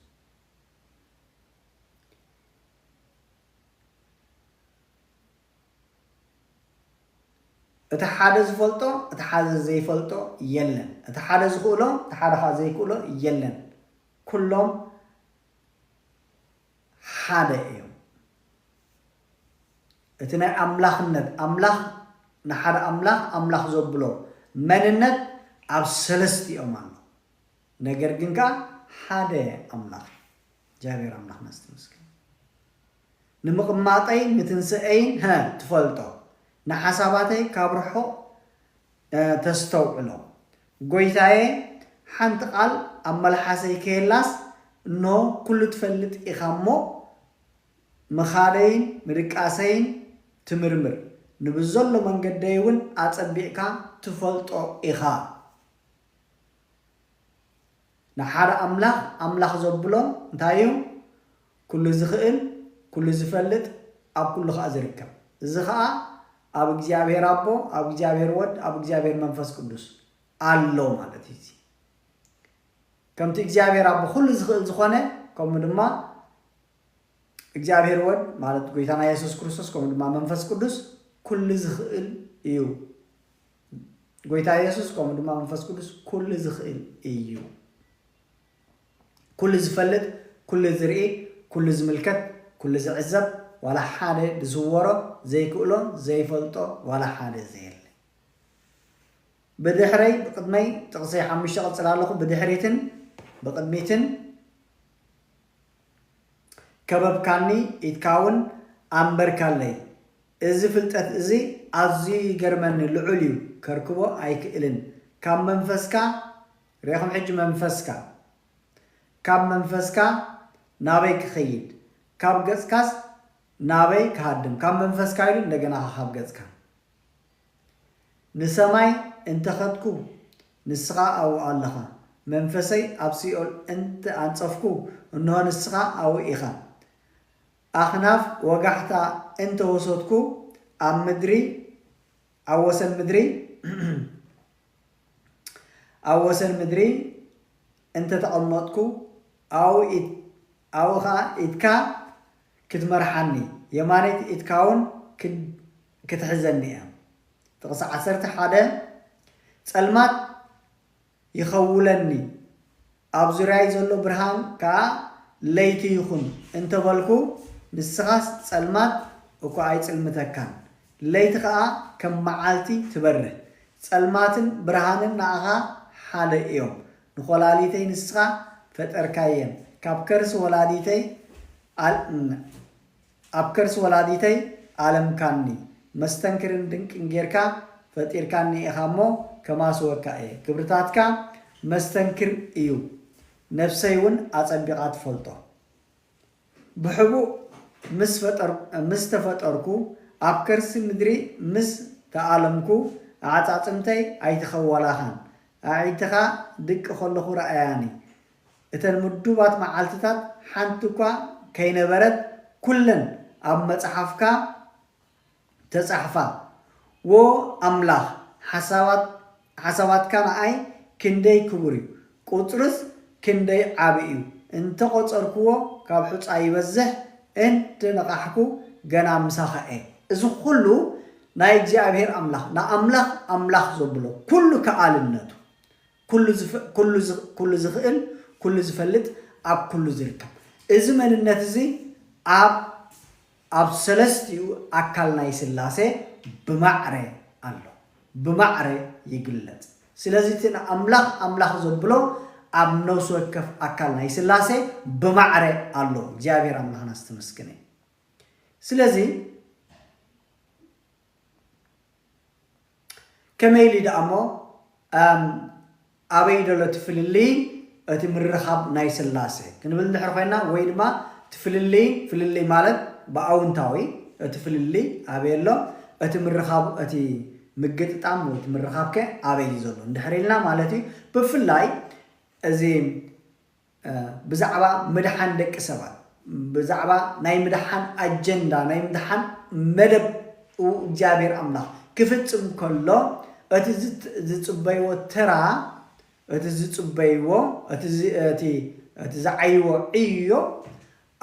እቲ ሓደ ዝፈልጦ እቲ ሓደ ዘይፈልጦ የለን እቲ ሓደ ዝኽእሎ እቲ ሓደ ከኣ ዘይክእሎ የለን ኩሎም ሓደ እዮም እቲ ናይ ኣምላኽነት ኣምላኽ ንሓደ ኣምላኽ ኣምላኽ ዘብሎ መንነት ኣብ ሰለስቲኦም ኣሎ ነገር ግን ከኣ ሓደ ኣምላኽ እዩ እግዚኣብሔር ኣምላኽ ነስትምስገን ንምቕማጠይ ንትንስኤይን ሀ ትፈልጦ ንሓሳባተይ ካብ ርሑቕ ተስተውዕሎ ጎይታየ ሓንቲ ቃል ኣብ መልሓሰይ ከየላስ እንሆ ኩሉ ትፈልጥ ኢኻ እሞ ምኻደይን ምድቃሰይን ትምርምር ንብዘሎ መንገደይ እውን ኣጸቢቕካ ትፈልጦ ኢኻ ንሓደ ኣምላኽ ኣምላኽ ዘብሎ እንታይ እዩ ኩሉ ዝኽእል፣ ኩሉ ዝፈልጥ፣ ኣብ ኩሉ ኸኣ ዝርከብ። እዚ ኸኣ ኣብ እግዚኣብሄር ኣቦ፣ ኣብ እግዚኣብሄር ወድ፣ ኣብ እግዚኣብሄር መንፈስ ቅዱስ ኣሎ ማለት እዩ። እዚ ከምቲ እግዚኣብሄር ኣቦ ኩሉ ዝኽእል ዝኾነ ከምኡ ድማ እግዚኣብሄር ወድ ማለት ጎይታና የሱስ ክርስቶስ ከምኡ ድማ መንፈስ ቅዱስ ኩሉ ዝኽእል እዩ። ጎይታ የሱስ ከምኡ ድማ መንፈስ ቅዱስ ኩሉ ዝኽእል እዩ። ኩሉ ዝፈልጥ ኩሉ ዝርኢ ኩሉ ዝምልከት ኩሉ ዝዕዘብ ዋላ ሓደ ድስወሮ ዘይክእሎ ዘይፈልጦ ዋላ ሓደ ዘየለ ብድሕረይ ብቅድመይ ጥቅሲ ሓሙሽተ ቀጽል ኣለኹ ብድሕሪትን ብቅድሚትን ከበብካኒ ኢትካ ውን ኣንበርካለይ እዚ ፍልጠት እዚ ኣዝዩ ይገርመኒ ልዑል ዩ ከርክቦ ኣይክእልን ካብ መንፈስካ ርኢኹም ሕጂ መንፈስካ ካብ መንፈስካ ናበይ ክኸይድ ካብ ገጽካስ ናበይ ክሃድም ካብ መንፈስካ ኢሉ እንደገና ከ ካብ ገጽካ ንሰማይ እንተ ከድኩ ንስኻ ኣብኡ ኣለኻ መንፈሰይ ኣብ ሲኦል እንተ ኣንጸፍኩ እንሆ ንስኻ ኣብኡ ኢኻ ኣኽናፍ ወጋሕታ እንተ ወሰድኩ ኣብ ምድሪ ኣብ ወሰን ምድሪ ኣብ ወሰን ምድሪ እንተ ተቐመጥኩ፣ ኣብኡ ኸኣ ኢድካ ኽትመርሓኒ፣ የማነይቲ ኢድካውን ክትሕዘኒ እያ። ጥቕሲ ዓሰርተ ሓደ ጸልማት ይኸውለኒ፣ ኣብ ዙርያይ ዘሎ ብርሃን ከኣ ለይቲ ይኹን እንተ በልኩ፣ ንስኻስ ጸልማት እኳ ኣይጽልምተካን፣ ለይቲ ኸኣ ከም መዓልቲ ትበርህ። ጸልማትን ብርሃንን ንኣኻ ሓደ እዮም። ንኮላሊተይ ንስኻ ፈጠርካየን፣ ካብ ከርሲ ወላዲተይ ኣብ ከርሲ ወላዲተይ ኣለምካኒ መስተንክርን ድንቅን ጌርካ ፈጢርካኒ ኢኻ እሞ ከማስወካ እየ ክብርታትካ መስተንክር እዩ ነብሰይ ውን ኣጸቢቃ ትፈልጦ ብሕቡእ ምስ ተፈጠርኩ ኣብ ከርሲ ምድሪ ምስ ተኣለምኩ ኣዕጻጽምተይ ኣይተኸወላኻን ኣዒንትኻ ድቂ ከለኹ ረኣያኒ እተን ምዱባት መዓልትታት ሓንቲ እኳ ከይነበረት ኩለን ኣብ መጽሓፍካ ተጻሕፋ። ዎ ኣምላኽ ሓሳባት ሓሳባትካ ንኣይ ክንደይ ክቡር እዩ ቁጽርስ ክንደይ ዓቢ እዩ እንተ ቆጸርክዎ ካብ ሑጻ ይበዝሕ እንተ ነቓሕኩ ገና ምሳኻ እየ። እዚ ኩሉ ናይ እግዚኣብሄር ኣምላኽ ንኣምላኽ ኣምላኽ ዘብሎ ኩሉ ከኣልነቱ ኩሉ ዝኽእል፣ ኩሉ ዝፈልጥ፣ ኣብ ኩሉ ዝርከብ። እዚ መንነት እዚ ኣብ ኣብ ሰለስቲኡ ኣካል ናይ ሥላሴ ብማዕረ ኣሎ። ብማዕረ ይግለጽ። ስለዚ እቲ ንኣምላኽ ኣምላኽ ዘብሎ ኣብ ነፍሲ ወከፍ ኣካል ናይ ሥላሴ ብማዕረ ኣሎ። እግዚኣብሔር ኣምላኽና ዝተመስገነ እዩ። ስለዚ ከመይ ኢሊ ደኣ እሞ ኣበይ ደሎ እቲ ፍልልይ እቲ ምርኻብ ናይ ስላሴ ክንብል እንድሕር ኮይና ወይ ድማ እቲ ፍልልይ ፍልልይ ማለት ብኣውንታዊ እቲ ፍልልይ ኣበይ ኣሎ እቲ ምርኻብ እቲ ምግጥጣም ወይ እቲ ምርኻብከ ኣበይ እዩ ዘሎ እንድሕር ኢልና ማለት እዩ ብፍላይ እዚ ብዛዕባ ምድሓን ደቂ ሰባት፣ ብዛዕባ ናይ ምድሓን ኣጀንዳ፣ ናይ ምድሓን መደብ እግዚኣብሔር ኣምላኽ ክፍጽም ከሎ እቲ ዝጽበይዎ ተራ፣ እቲ ዝጽበይዎ፣ እቲ እቲ ዝዓይዎ ዕዮ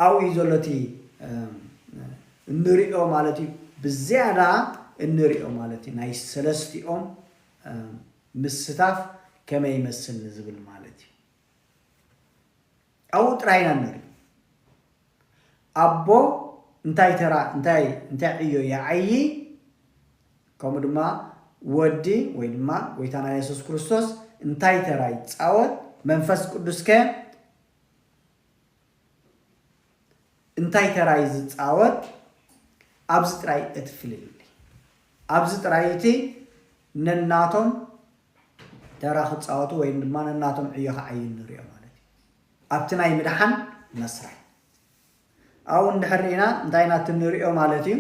ኣብኡ እዩ ዘሎ እቲ እንርእዮ ማለት እዩ ብዝያዳ እንርእዮ ማለት እዩ ናይ ሰለስቲኦም ምስታፍ ከመይ ይመስል ንዝብል ማለት እዩ። ኣብኡ ጥራይ ኢና ንርኢ ኣቦ እንታይ ተራ እንታይ እንታይ ዕዮ ይዓዪ ከምኡ ድማ ወዲ ወይ ድማ ጎይታና የሱስ ክርስቶስ እንታይ ተራ ይጻወት መንፈስ ቅዱስ ከ እንታይ ተራ እዩ ዝጻወት ኣብዚ ጥራይ እቲ ፍልልይ ኣብዚ ጥራይ እቲ ነናቶም ተራ ክጻወቱ ወይም ድማ ነናቶም ዕዮ ክዓዩ ንሪኦ ማለት እዩ ኣብቲ ናይ ምድሓን መስርሕ። ኣብኡ እንድሕር ርኢና እንታይ ኢና እቲ ንሪኦ ማለት እዩ።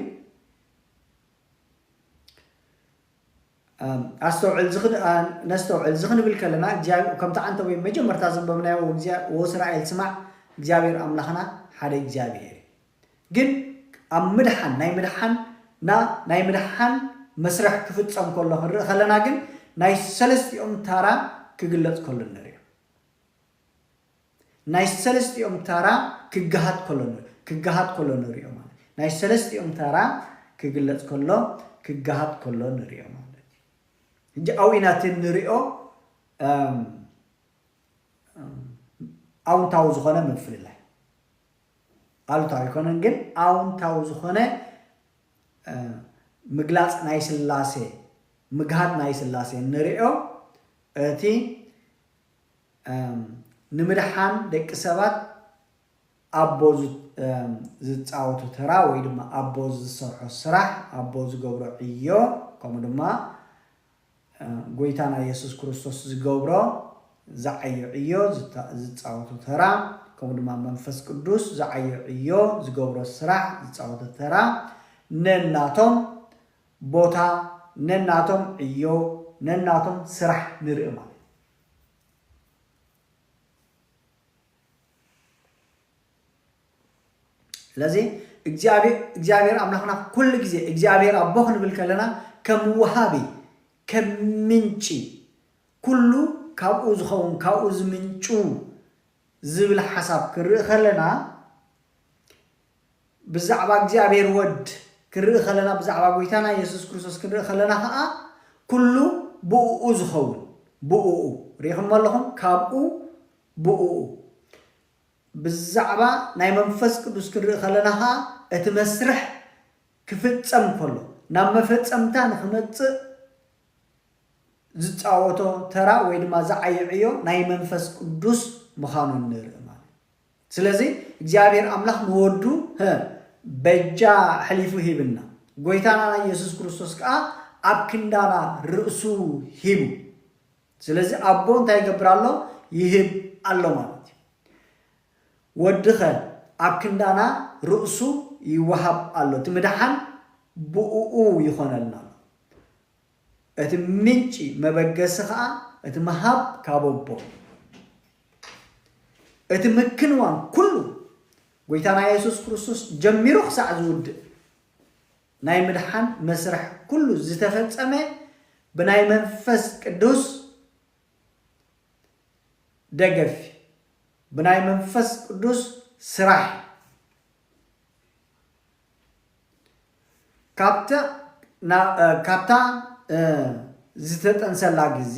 ኣስተውዕል ነስተውዕል እዚ ክንብል ከለና ከምቲ ዓንተ ወይም መጀመርታ ዘንበብናዮ ወእስራኤል ስማዕ እግዚኣብሔር ኣምላኽና ሓደ እግዚኣብሔር እዩ ግን ኣብ ምድሓን ናይ ምድሓን ና ናይ ምድሓን መስርሕ ክፍጸም ከሎ ክንርኢ ከለና ግን ናይ ሰለስቲኦም ታራ ክግለጽ ከሎ ንሪኦ ናይ ሰለስቲኦም ታራ ክግሃድ ከሎ ክግሃድ ከሎ ንሪኦ ማለት እዩ ናይ ሰለስቲኦም ታራ ክግለጽ ከሎ ክግሃድ ከሎ ንሪኦ ማለት እዩ ሕጂ ኣብኡ ኢና እቲ ንሪኦ ኣውንታዊ ዝኾነ ምፍልላይ ኣሉታዊ ኣይኮነን ግን ኣውንታዊ ዝኾነ ምግላፅ ናይ ስላሴ ምግሃድ ናይ ስላሴ እንሪኦ እቲ ንምድሓን ደቂ ሰባት ኣቦ ዝፃወቶ ተራ ወይ ድማ ኣቦ ዝሰርሖ ስራሕ ኣቦ ዝገብሮ ዕዮ ከምኡ ድማ ጎይታና የሱስ ክርስቶስ ዝገብሮ ዝዓዪ ዕዮ ዝጻወቶ ተራ ከምኡ ድማ መንፈስ ቅዱስ ዝዓዪ ዕዮ ዝገብሮ ስራሕ ዝጻወቶ ተራ ነናቶም ቦታ ነናቶም ዕዮ ነናቶም ስራሕ ንርኢ ማለት እዩ። ስለዚ እግዚኣብሔር ኣምላክና ኩሉ ግዜ እግዚኣብሔር ኣቦ ክንብል ከለና ከም ወሃቢ ከም ምንጪ ኩሉ ካብኡ ዝኸውን ካብኡ ዝምንጩ ዝብል ሓሳብ ክንርኢ ከለና ብዛዕባ እግዚኣብሔር ወድ ክንርኢ ከለና ብዛዕባ ጎይታና የሱስ ክርስቶስ ክንርኢ ከለና ከዓ ኩሉ ብእኡ ዝኸውን ብእኡ ሪኢኹሞ ኣለኹም ካብኡ ብእኡ ብዛዕባ ናይ መንፈስ ቅዱስ ክንርኢ ከለና ከኣ እቲ መስርሕ ክፍጸም ከሎ ናብ መፈጸምታ ንኽመጽእ ዝጻወቶ ተራ ወይ ድማ ዝዓዪ ዕዮ ናይ መንፈስ ቅዱስ ምኻኑ ንርኢ ማለት እዩ። ስለዚ እግዚኣብሔር ኣምላኽ ንወዱ በጃ ሐሊፉ ሂብና ጎይታና ኢየሱስ ክርስቶስ ከኣ ኣብ ክንዳና ርእሱ ሂቡ። ስለዚ ኣቦ እንታይ ይገብር ኣሎ ይህብ ኣሎ ማለት እዩ ወዲ ከ ኣብ ክንዳና ርእሱ ይወሃብ ኣሎ እቲ ምድሓን ብኡኡ ይኾነልና ኣሎ እቲ ምንጪ መበገሲ ከኣ እቲ ምሃብ ካብ ኣቦ እቲ ምክንዋን ኩሉ ጎይታና የሱስ ክርስቶስ ጀሚሩ ክሳዕ ዝውድእ ናይ ምድሓን መስርሕ ኩሉ ዝተፈጸመ ብናይ መንፈስ ቅዱስ ደገፍ እዩ። ብናይ መንፈስ ቅዱስ ስራሕ እዩ። ካብታ ዝተጠንሰላ ግዜ፣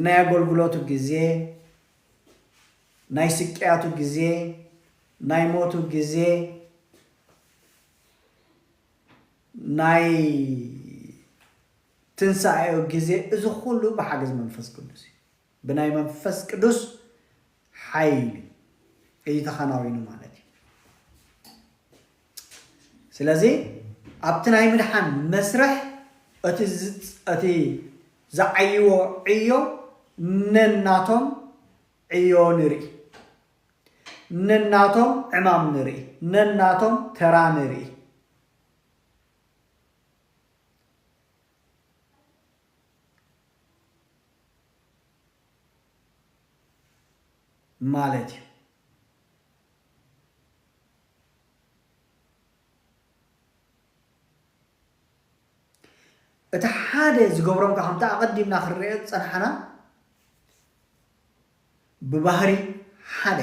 ናይ ኣገልግሎቱ ግዜ፣ ናይ ስቅያቱ ግዜ፣ ናይ ሞቱ ግዜ፣ ናይ ትንሳኤኡ ግዜ እዚ ኩሉ ብሓገዝ መንፈስ ቅዱስ እዩ። ብናይ መንፈስ ቅዱስ ሓይሊ እዩ ተኸናዊኑ ማለት እዩ። ስለዚ ኣብቲ ናይ ምድሓን መስርሕ እቲ ዝዓይዎ ዕዮ ነናቶም ዕዮ ንርኢ፣ ነናቶም ዕማም ንርኢ፣ ነናቶም ተራ ንርኢ። ማለት እዩ። እቲ ሓደ ዝገብሮም ከምቲ ኣቐዲምና ክንሪኦ ዝጸናሕና ብባህሪ ሓደ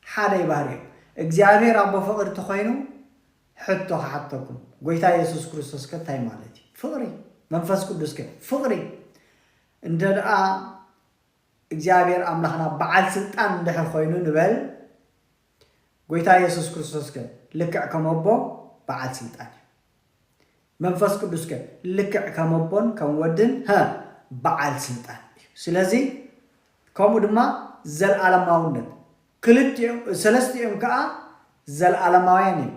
ሓደ ባህሪ እዮም እግዚኣብሔር ኣቦ ፍቅሪ ተኮይኑ ሕቶ ክሓተኩም ጎይታ የሱስ ክርስቶስ ከ እንታይ ማለት እዩ ፍቅሪ መንፈስ ቅዱስ ከ ፍቅሪ እንተ ደኣ እግዚኣብሔር ኣምላኽና በዓል ስልጣን እንድሕር ኮይኑ ንበል ጎይታ የሱስ ክርስቶስ ከ ልክዕ ከመቦ በዓል ስልጣን እዩ መንፈስ ቅዱስከ ልክዕ ከም ኣቦን ከም ወድን ሀ በዓል ስልጣን እዩ። ስለዚ ከምኡ ድማ ዘለዓለማውነት ክልቲኦም ሰለስቲኦም ከኣ ዘለዓለማውያን እዮም።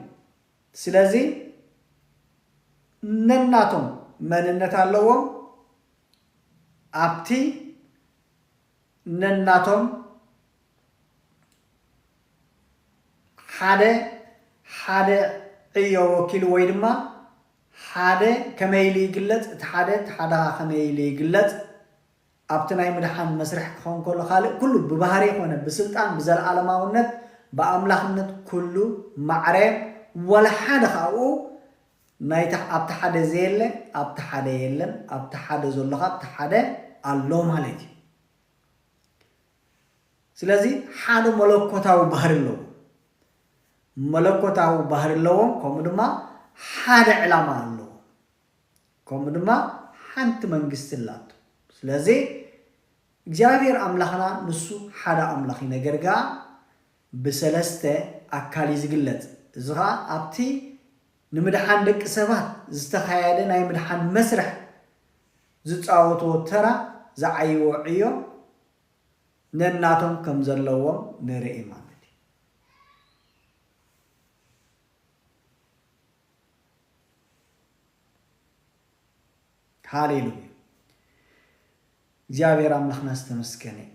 ስለዚ ነናቶም መንነት ኣለዎም ኣብቲ ነናቶም ሓደ ሓደ ዕዮ ወኪሉ ወይ ድማ ሓደ ከመይ ኢሉ ይግለጽ እቲ ሓደ እቲ ሓደ ከኣ ከመይ ኢሉ ይግለጽ ኣብቲ ናይ ምድሓን መስርሕ ክኸውን ከሎ ካልእ ኩሉ ብባህሪ ኮነ ብስልጣን ብዘልኣለማውነት ብኣምላኽነት ኩሉ ማዕረ ወላ ሓደ ከኣ ኣብኡ ናይታ ኣብቲ ሓደ ዘየለ ኣብቲ ሓደ የለን ኣብቲ ሓደ ዘሎ ከኣ ኣብቲ ሓደ ኣሎ ማለት እዩ። ስለዚ ሓደ መለኮታዊ ባህሪ ኣለዎም። መለኮታዊ ባህሪ ኣለዎም ከምኡ ድማ ሓደ ዕላማ ኣለዎም። ከምኡ ድማ ሓንቲ መንግስቲ ኣላቶ። ስለዚ እግዚኣብሔር ኣምላኽና ንሱ ሓደ ኣምላኽ እዩ። ነገር ግኣ ብሰለስተ ኣካል እዩ ዝግለጽ። እዚ ኸኣ ኣብቲ ንምድሓን ደቂ ሰባት ዝተኻየደ ናይ ምድሓን መስርሕ ዝጻወትዎ ተራ ዝዓይዎ ዕዮ ነናቶም ከም ዘለዎም ንርኢ ማለት እዩ። ሃሌሉያ! እግዚኣብሔር ኣምላኽና ዝተመስገነ ይኹን።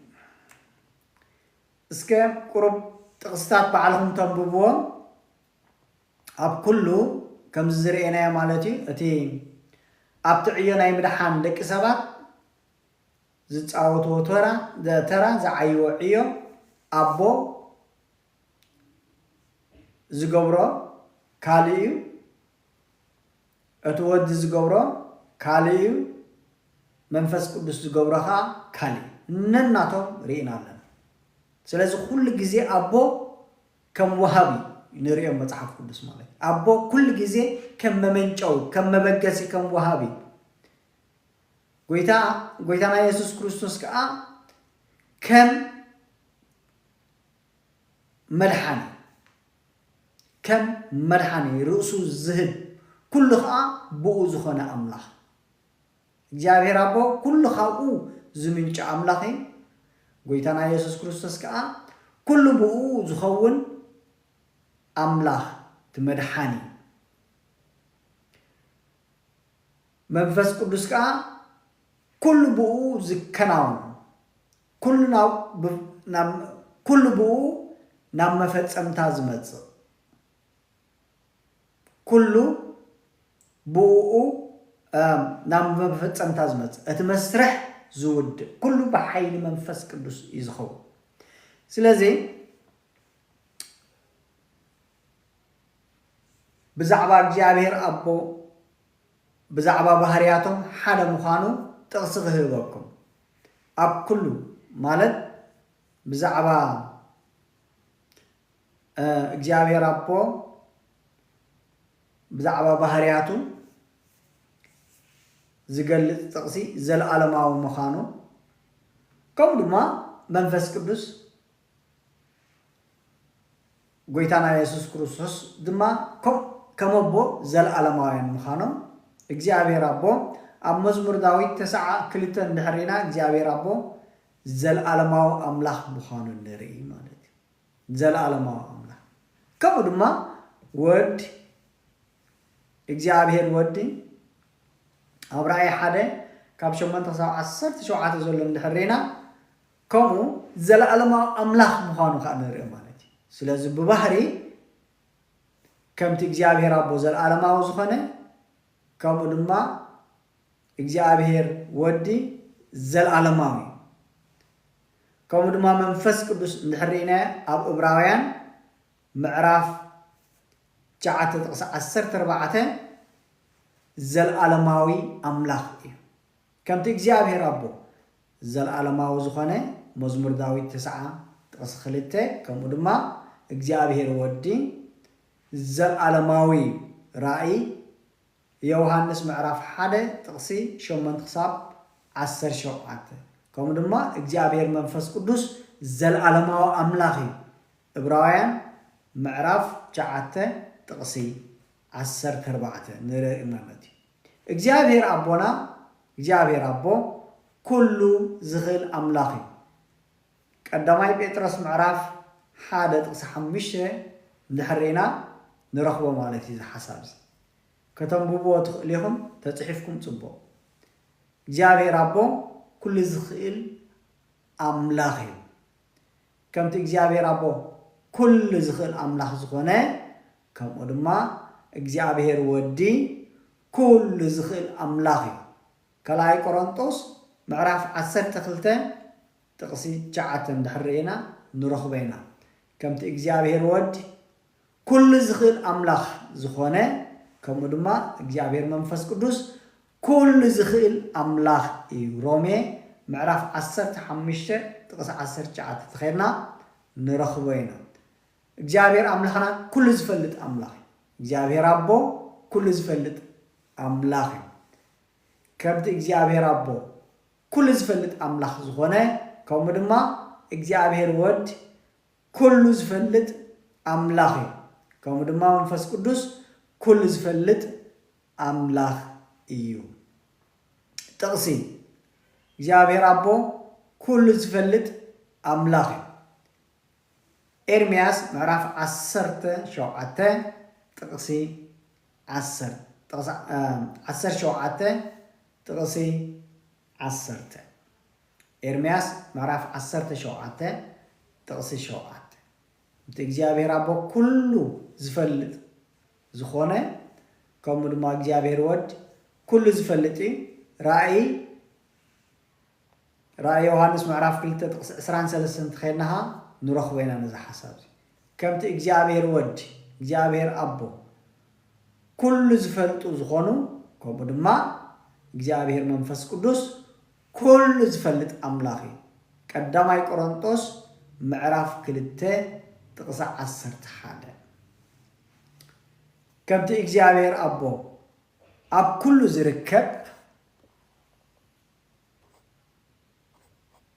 እስከ ቁሩብ ጥቕስታት ባዕልኹም ተንብብዎም ኣብ ኩሉ ከምዚ ዝርኤናዮ ማለት እዩ እቲ ኣብቲ ዕዮ ናይ ምድሓን ደቂ ሰባት ዝጻወትዎ ተራ ተራ ዝዓይዎ ዕዮ ኣቦ ዝገብሮ ካልእ እዩ እቲ ወዲ ዝገብሮ ካልእ እዩ መንፈስ ቅዱስ ዝገብሮ ከኣ ካልእ እዩ ነናቶም ሪኢና ኣለና ስለዚ ኩሉ ግዜ ኣቦ ከም ወሃቢ ንርእዮም መጽሓፍ ቅዱስ ማለት እዩ ኣቦ ኩሉ ግዜ ከም መመንጨዊ ከም መበገሲ ከም ወሃቢ ጎይታ ጎይታና የሱስ ክርስቶስ ከኣ ከም መድሓኒ ከም መድሓኒ ርእሱ ዝህብ ኩሉ ከኣ ብኡ ዝኾነ ኣምላኽ እግዚኣብሔር ኣቦ ኩሉ ካብኡ ዝምንጩ ኣምላኽ እዩ ጎይታና የሱስ ክርስቶስ ከኣ ኩሉ ብኡ ዝኸውን ኣምላኽ እቲ መድሓኒ እዩ መንፈስ ቅዱስ ከኣ ኩሉ ብኡ ዝከናወን ኩሉ ኩሉ ብእኡ ናብ መፈጸምታ ዝመጽእ ኩሉ ብእኡ ናብ መፈጸምታ ዝመጽእ እቲ መስርሕ ዝውድእ ኩሉ ብሓይሊ መንፈስ ቅዱስ እዩ ዝኸውን ስለዚ ብዛዕባ እግዚኣብሔር ኣቦ ብዛዕባ ባህርያቶም ሓደ ምዃኑ ጥቕሲ ክህበኩም ኣብ ኩሉ ማለት ብዛዕባ እግዚኣብሔር ኣቦ ብዛዕባ ባህርያቱ ዝገልጽ ጥቕሲ ዘለኣለማዊ ምዃኑ ከምኡ ድማ መንፈስ ቅዱስ ጐይታና የሱስ ክርስቶስ ድማ ከምኡ ከም ኣቦ ዘለኣለማውያን ምዃኖም እግዚኣብሔር ኣቦ ኣብ መዝሙር ዳዊት ተሰዓ ክልተ እንድሕር ርኢና እግዚኣብሔር ኣቦ ዘለኣለማዊ ኣምላኽ ምዃኑ ንርኢ ማለት እዩ። ዘለኣለማዊ ኣምላኽ ከምኡ ድማ ወድ እግዚኣብሔር ወዲ ኣብ ራእይ ሓደ ካብ ሸሞንተ ክሳብ ዓሰርተ ሸውዓተ ዘሎ እንድሕር ርኢና ከምኡ ዘለኣለማዊ ኣምላኽ ምዃኑ ከኣ ንርእዮ ማለት እዩ። ስለዚ ብባህሪ ከምቲ እግዚኣብሔር ኣቦ ዘለኣለማዊ ዝኾነ ከምኡ ድማ እግዚኣብሔር ወዲ ዘለኣለማዊ እዩ። ከምኡ ድማ መንፈስ ቅዱስ እንድሕር ርኢናዮ ኣብ እብራውያን ምዕራፍ ትሽዓተ ጥቕሲ ዓሰርተ ኣርባዕተ ዘለኣለማዊ ኣምላኽ እዩ። ከምቲ እግዚኣብሔር ኣቦ ዘልኣለማዊ ዝኾነ መዝሙር ዳዊት ተስዓ ጥቕሲ ክልተ ከምኡ ድማ እግዚኣብሔር ወዲ ዘልኣለማዊ ራእይ የውሃንስ ምዕራፍ ሓደ ጥቕሲ ሸሞንት ክሳብ ዓሰርተ ሸውዓተ ከምኡ ድማ እግዚኣብሔር መንፈስ ቅዱስ ዘልኣለማዊ ኣምላኽ እዩ እብራውያን ምዕራፍ ትሽዓተ ጥቕሲ ዓሰርተ ኣርባዕተ ንርኢ ማለት እዩ። እግዚኣብሄር ኣቦና፣ እግዚኣብሄር ኣቦ ኩሉ ዝኽእል ኣምላኽ እዩ። ቀዳማይ ጴጥሮስ ምዕራፍ ሓደ ጥቕሲ ሓሙሽተ እንድሕር ርኢና ንረኽቦ ማለት እዩ እዚ ሓሳብ እዚ። ከተንብብዎ ትኽእሉ ኢኹም ተጽሒፍኩም ጽቡቕ። እግዚኣብሄር ኣቦ ኩሉ ዝኽእል ኣምላኽ እዩ። ከምቲ እግዚኣብሄር ኣቦ ኩሉ ዝኽእል ኣምላኽ ዝኾነ ከምኡ ድማ እግዚኣብሄር ወዲ ኩሉ ዝኽእል ኣምላኽ እዩ። ካልኣይ ቆሮንጦስ ምዕራፍ ዓሰርተ ክልተ ጥቕሲ ትሽዓተ እንድሕር ርኢና ንረኽቦ ኢና። ከምቲ እግዚኣብሄር ወዲ ኩሉ ዝኽእል ኣምላኽ ዝኾነ ከምኡ ድማ እግዚኣብሔር መንፈስ ቅዱስ ኩሉ ዝኽእል ኣምላኽ እዩ ሮሜ ምዕራፍ ዓሰርተ ሓሙሽተ ጥቕሲ ዓሰርተ ትሽዓተ ተኼድና ንረኽቦ ኢና እግዚኣብሔር ኣምላኽና ኩሉ ዝፈልጥ ኣምላኽ እዩ እግዚኣብሔር ኣቦ ኩሉ ዝፈልጥ ኣምላኽ እዩ ከምቲ እግዚኣብሔር ኣቦ ኩሉ ዝፈልጥ ኣምላኽ ዝኾነ ከምኡ ድማ እግዚኣብሔር ወድ ኩሉ ዝፈልጥ ኣምላኽ እዩ ከምኡ ድማ መንፈስ ቅዱስ ኩሉ ዝፈልጥ ኣምላኽ እዩ። ጥቕሲ፣ እግዚኣብሔር ኣቦ ኩሉ ዝፈልጥ ኣምላኽ እዩ። ኤርምያስ ምዕራፍ ዓሰርተ ሸውዓተ ጥቕሲ ዓሰርተ ዓሰርተ ሸውዓተ ጥቕሲ ዓሰርተ። ኤርምያስ ምዕራፍ ዓሰርተ ሸውዓተ ጥቕሲ ሸውዓተ፣ እቲ እግዚኣብሄር ኣቦ ኵሉ ዚፈልጥ ዝዀነ፣ ከምኡ ድማ እግዚኣብሄር ወድ ኵሉ ዚፈልጥ እዩ፣ ራእይ ራእይ ዮሃንስ ምዕራፍ ክልተ ጥቕሲ ዕስራን ሰለስተን እንተ ኼድና ኸኣ ንረኽቦ ኢና ነዚ ሓሳብ እዚ። ከምቲ እግዚኣብሄር ወዲ፣ እግዚኣብሄር ኣቦ፣ ኩሉ ዝፈልጡ ዝኾኑ፣ ከምኡ ድማ እግዚኣብሄር መንፈስ ቅዱስ ኩሉ ዝፈልጥ ኣምላኽ እዩ። ቀዳማይ ቆሮንጦስ ምዕራፍ ክልተ ጥቕሲ ዓሰርተ ሓደ። ከምቲ እግዚኣብሄር ኣቦ ኣብ ኩሉ ዝርከብ፣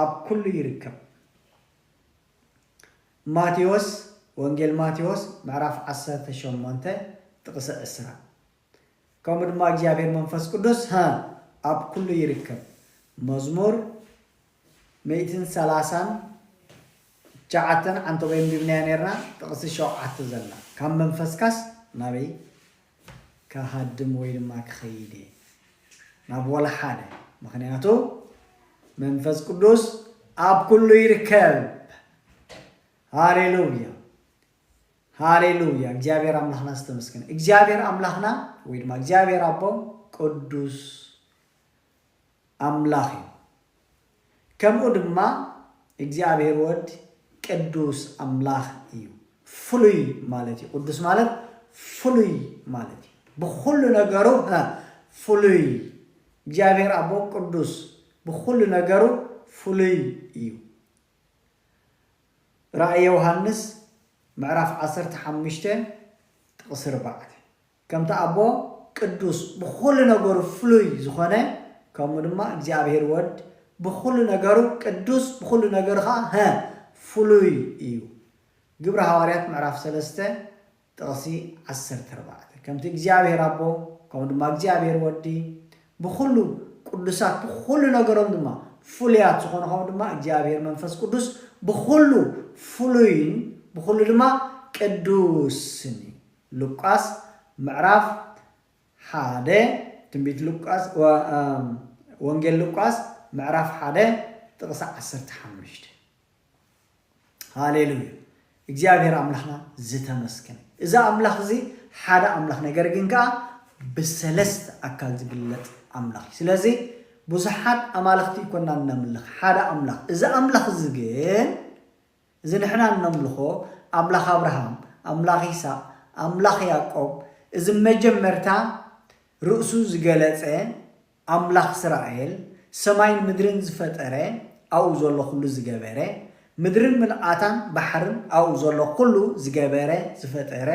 ኣብ ኩሉ ይርከብ። ማቴዎስ ወንጌል ማቴዎስ ምዕራፍ ዓሰርተ ሸሞንተ ጥቕሰ ዕስራ ከምኡ ድማ እግዚኣብሔር መንፈስ ቅዱስ ሀ ኣብ ኩሉ ይርከብ መዝሙር ሚእትን ሰላሳን ትሽዓተን ዓንተቦይ ኣንቢብናያ ነርና ጥቕሲ ሸውዓተ ዘላ ካብ መንፈስካስ ናበይ ክሃድም ወይ ድማ ክኸይድ እየ ናብ ወላ ሓደ ምኽንያቱ መንፈስ ቅዱስ ኣብ ኩሉ ይርከብ ሃሌሉያ ሃሌሉያ እግዚኣብሔር ኣምላኽና ዝተመስገነ እግዚኣብሔር ኣምላኽና ወይ ድማ እግዚኣብሔር ኣቦ ቅዱስ ኣምላኽ እዩ ከምኡ ድማ እግዚኣብሔር ወልድ ቅዱስ ኣምላኽ እዩ። ፍሉይ ማለት እዩ። ቅዱስ ማለት ፍሉይ ማለት እዩ። ብኹሉ ነገሩ ፍሉይ እግዚኣብሔር ኣቦ ቅዱስ ብኹሉ ነገሩ ፍሉይ እዩ። ራእይ ዮሃንስ ምዕራፍ ዓሰርተ ሓሙሽተ ጥቕሲ ርባዕተ ከምቲ ኣቦ ቅዱስ ብኹሉ ነገሩ ፍሉይ ዝኾነ ከምኡ ድማ እግዚኣብሔር ወድ ብኹሉ ነገሩ ቅዱስ ብኹሉ ነገሩ ኸኣ ሀ ፍሉይ እዩ ግብሪ ሃዋርያት ምዕራፍ ሰለስተ ጥቕሲ ዓሰርተ ኣርባዕተ ከምቲ እግዚኣብሔር ኣቦ ከምኡ ድማ እግዚኣብሔር ወዲ ብኹሉ ቅዱሳት ብኹሉ ነገሮም ድማ ፍሉያት ዝኾኑ ከምኡ ድማ እግዚኣብሔር መንፈስ ቅዱስ ብኹሉ ፍሉይን ብኹሉ ድማ ቅዱስን እዩ ሉቃስ ምዕራፍ ሓደ ትንቢት ሉቃስ ወንጌል ሉቃስ ምዕራፍ ሓደ ጥቕሲ ዓሰርተ ሓሙሽተ ሃሌሉያ እግዚኣብሔር ኣምላኽና ዝተመስገን እዚ ኣምላኽ እዚ ሓደ ኣምላኽ ነገር ግን ከዓ ብሰለስተ ኣካል ዝግለፅ ኣምላኽ እዩ ስለዚ ብዙሓት ኣማልኽቲ ይኮና እነምልኽ ሓደ ኣምላኽ እዚ ኣምላኽ እዚ ግን እዚ ንሕና እነምልኾ ኣምላኽ ኣብርሃም፣ ኣምላኽ ይስሃቅ፣ ኣምላኽ ያእቆብ፣ እዚ መጀመርታ ርእሱ ዝገለጸ ኣምላኽ እስራኤል፣ ሰማይን ምድርን ዝፈጠረ፣ ኣብኡ ዘሎ ኩሉ ዝገበረ፣ ምድርን ምልኣታን ባሕርን ኣብኡ ዘሎ ኩሉ ዝገበረ ዝፈጠረ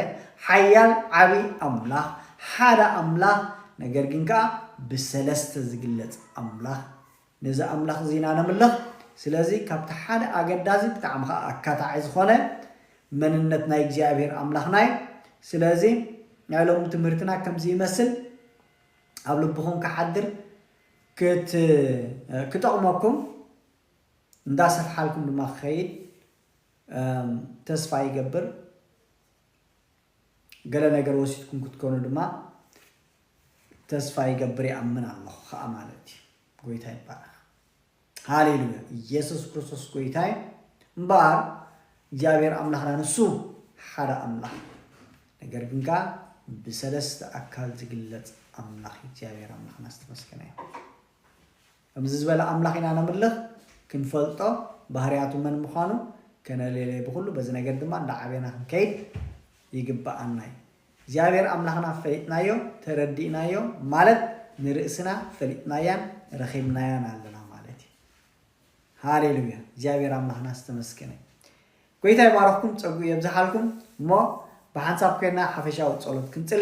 ሓያል ዓቢ ኣምላኽ፣ ሓደ ኣምላኽ ነገር ግን ከኣ ብሰለስተ ዝግለጽ ኣምላኽ፣ ነዚ ኣምላኽ እዚ ኢና ነምልኽ። ስለዚ ካብቲ ሓደ ኣገዳዚ ብጣዕሚ ከኣ ኣካታዒ ዝኾነ መንነት ናይ እግዚኣብሄር ኣምላኽና እዩ። ስለዚ ናይ ሎሚ ትምህርትና ከምዚ ይመስል ኣብ ልብኹም ክሓድር ክት ክጠቕመኩም እንዳ ሰፍሓልኩም ድማ ክኸይድ ተስፋ ይገብር። ገለ ነገር ወሲድኩም ክትኮኑ ድማ ተስፋ ይገብር ይኣምን ኣለኩ ከኣ ማለት እዩ ጎይታ ይባረክ ሃሌሉያ ኢየሱስ ክርስቶስ ጎይታ እዩ እምበኣር እግዚኣብሔር ኣምላክና ንሱ ሓደ ኣምላክ ነገር ግን ከኣ ብሰለስተ ኣካል ዝግለጽ ኣምላክ እግዚኣብሔር ኣምላክና ዝተመስገነ እዩ ከምዚ ዝበለ ኣምላኽ ኢና ነምልኽ፣ ክንፈልጦ፣ ባህርያቱ መን ምዃኑ ከነሌሌ ብኹሉ በዚ ነገር ድማ እንዳዓበና ክንከይድ ይግብኣና እዩ። እግዚኣብሔር ኣምላኽና ፈሊጥናዮ፣ ተረዲእናዮ ማለት ንርእስና ፈሊጥናያን ረኺብናያን ኣለና ማለት እዩ። ሃሌሉያ እግዚኣብሔር ኣምላኽና ዝተመስገነ ጎይታ ይባረኽኩም ጸጉኡ የብዝሓልኩም እሞ ብሓንሳብ ኮይና ሓፈሻዊ ጸሎት ክንጽሊ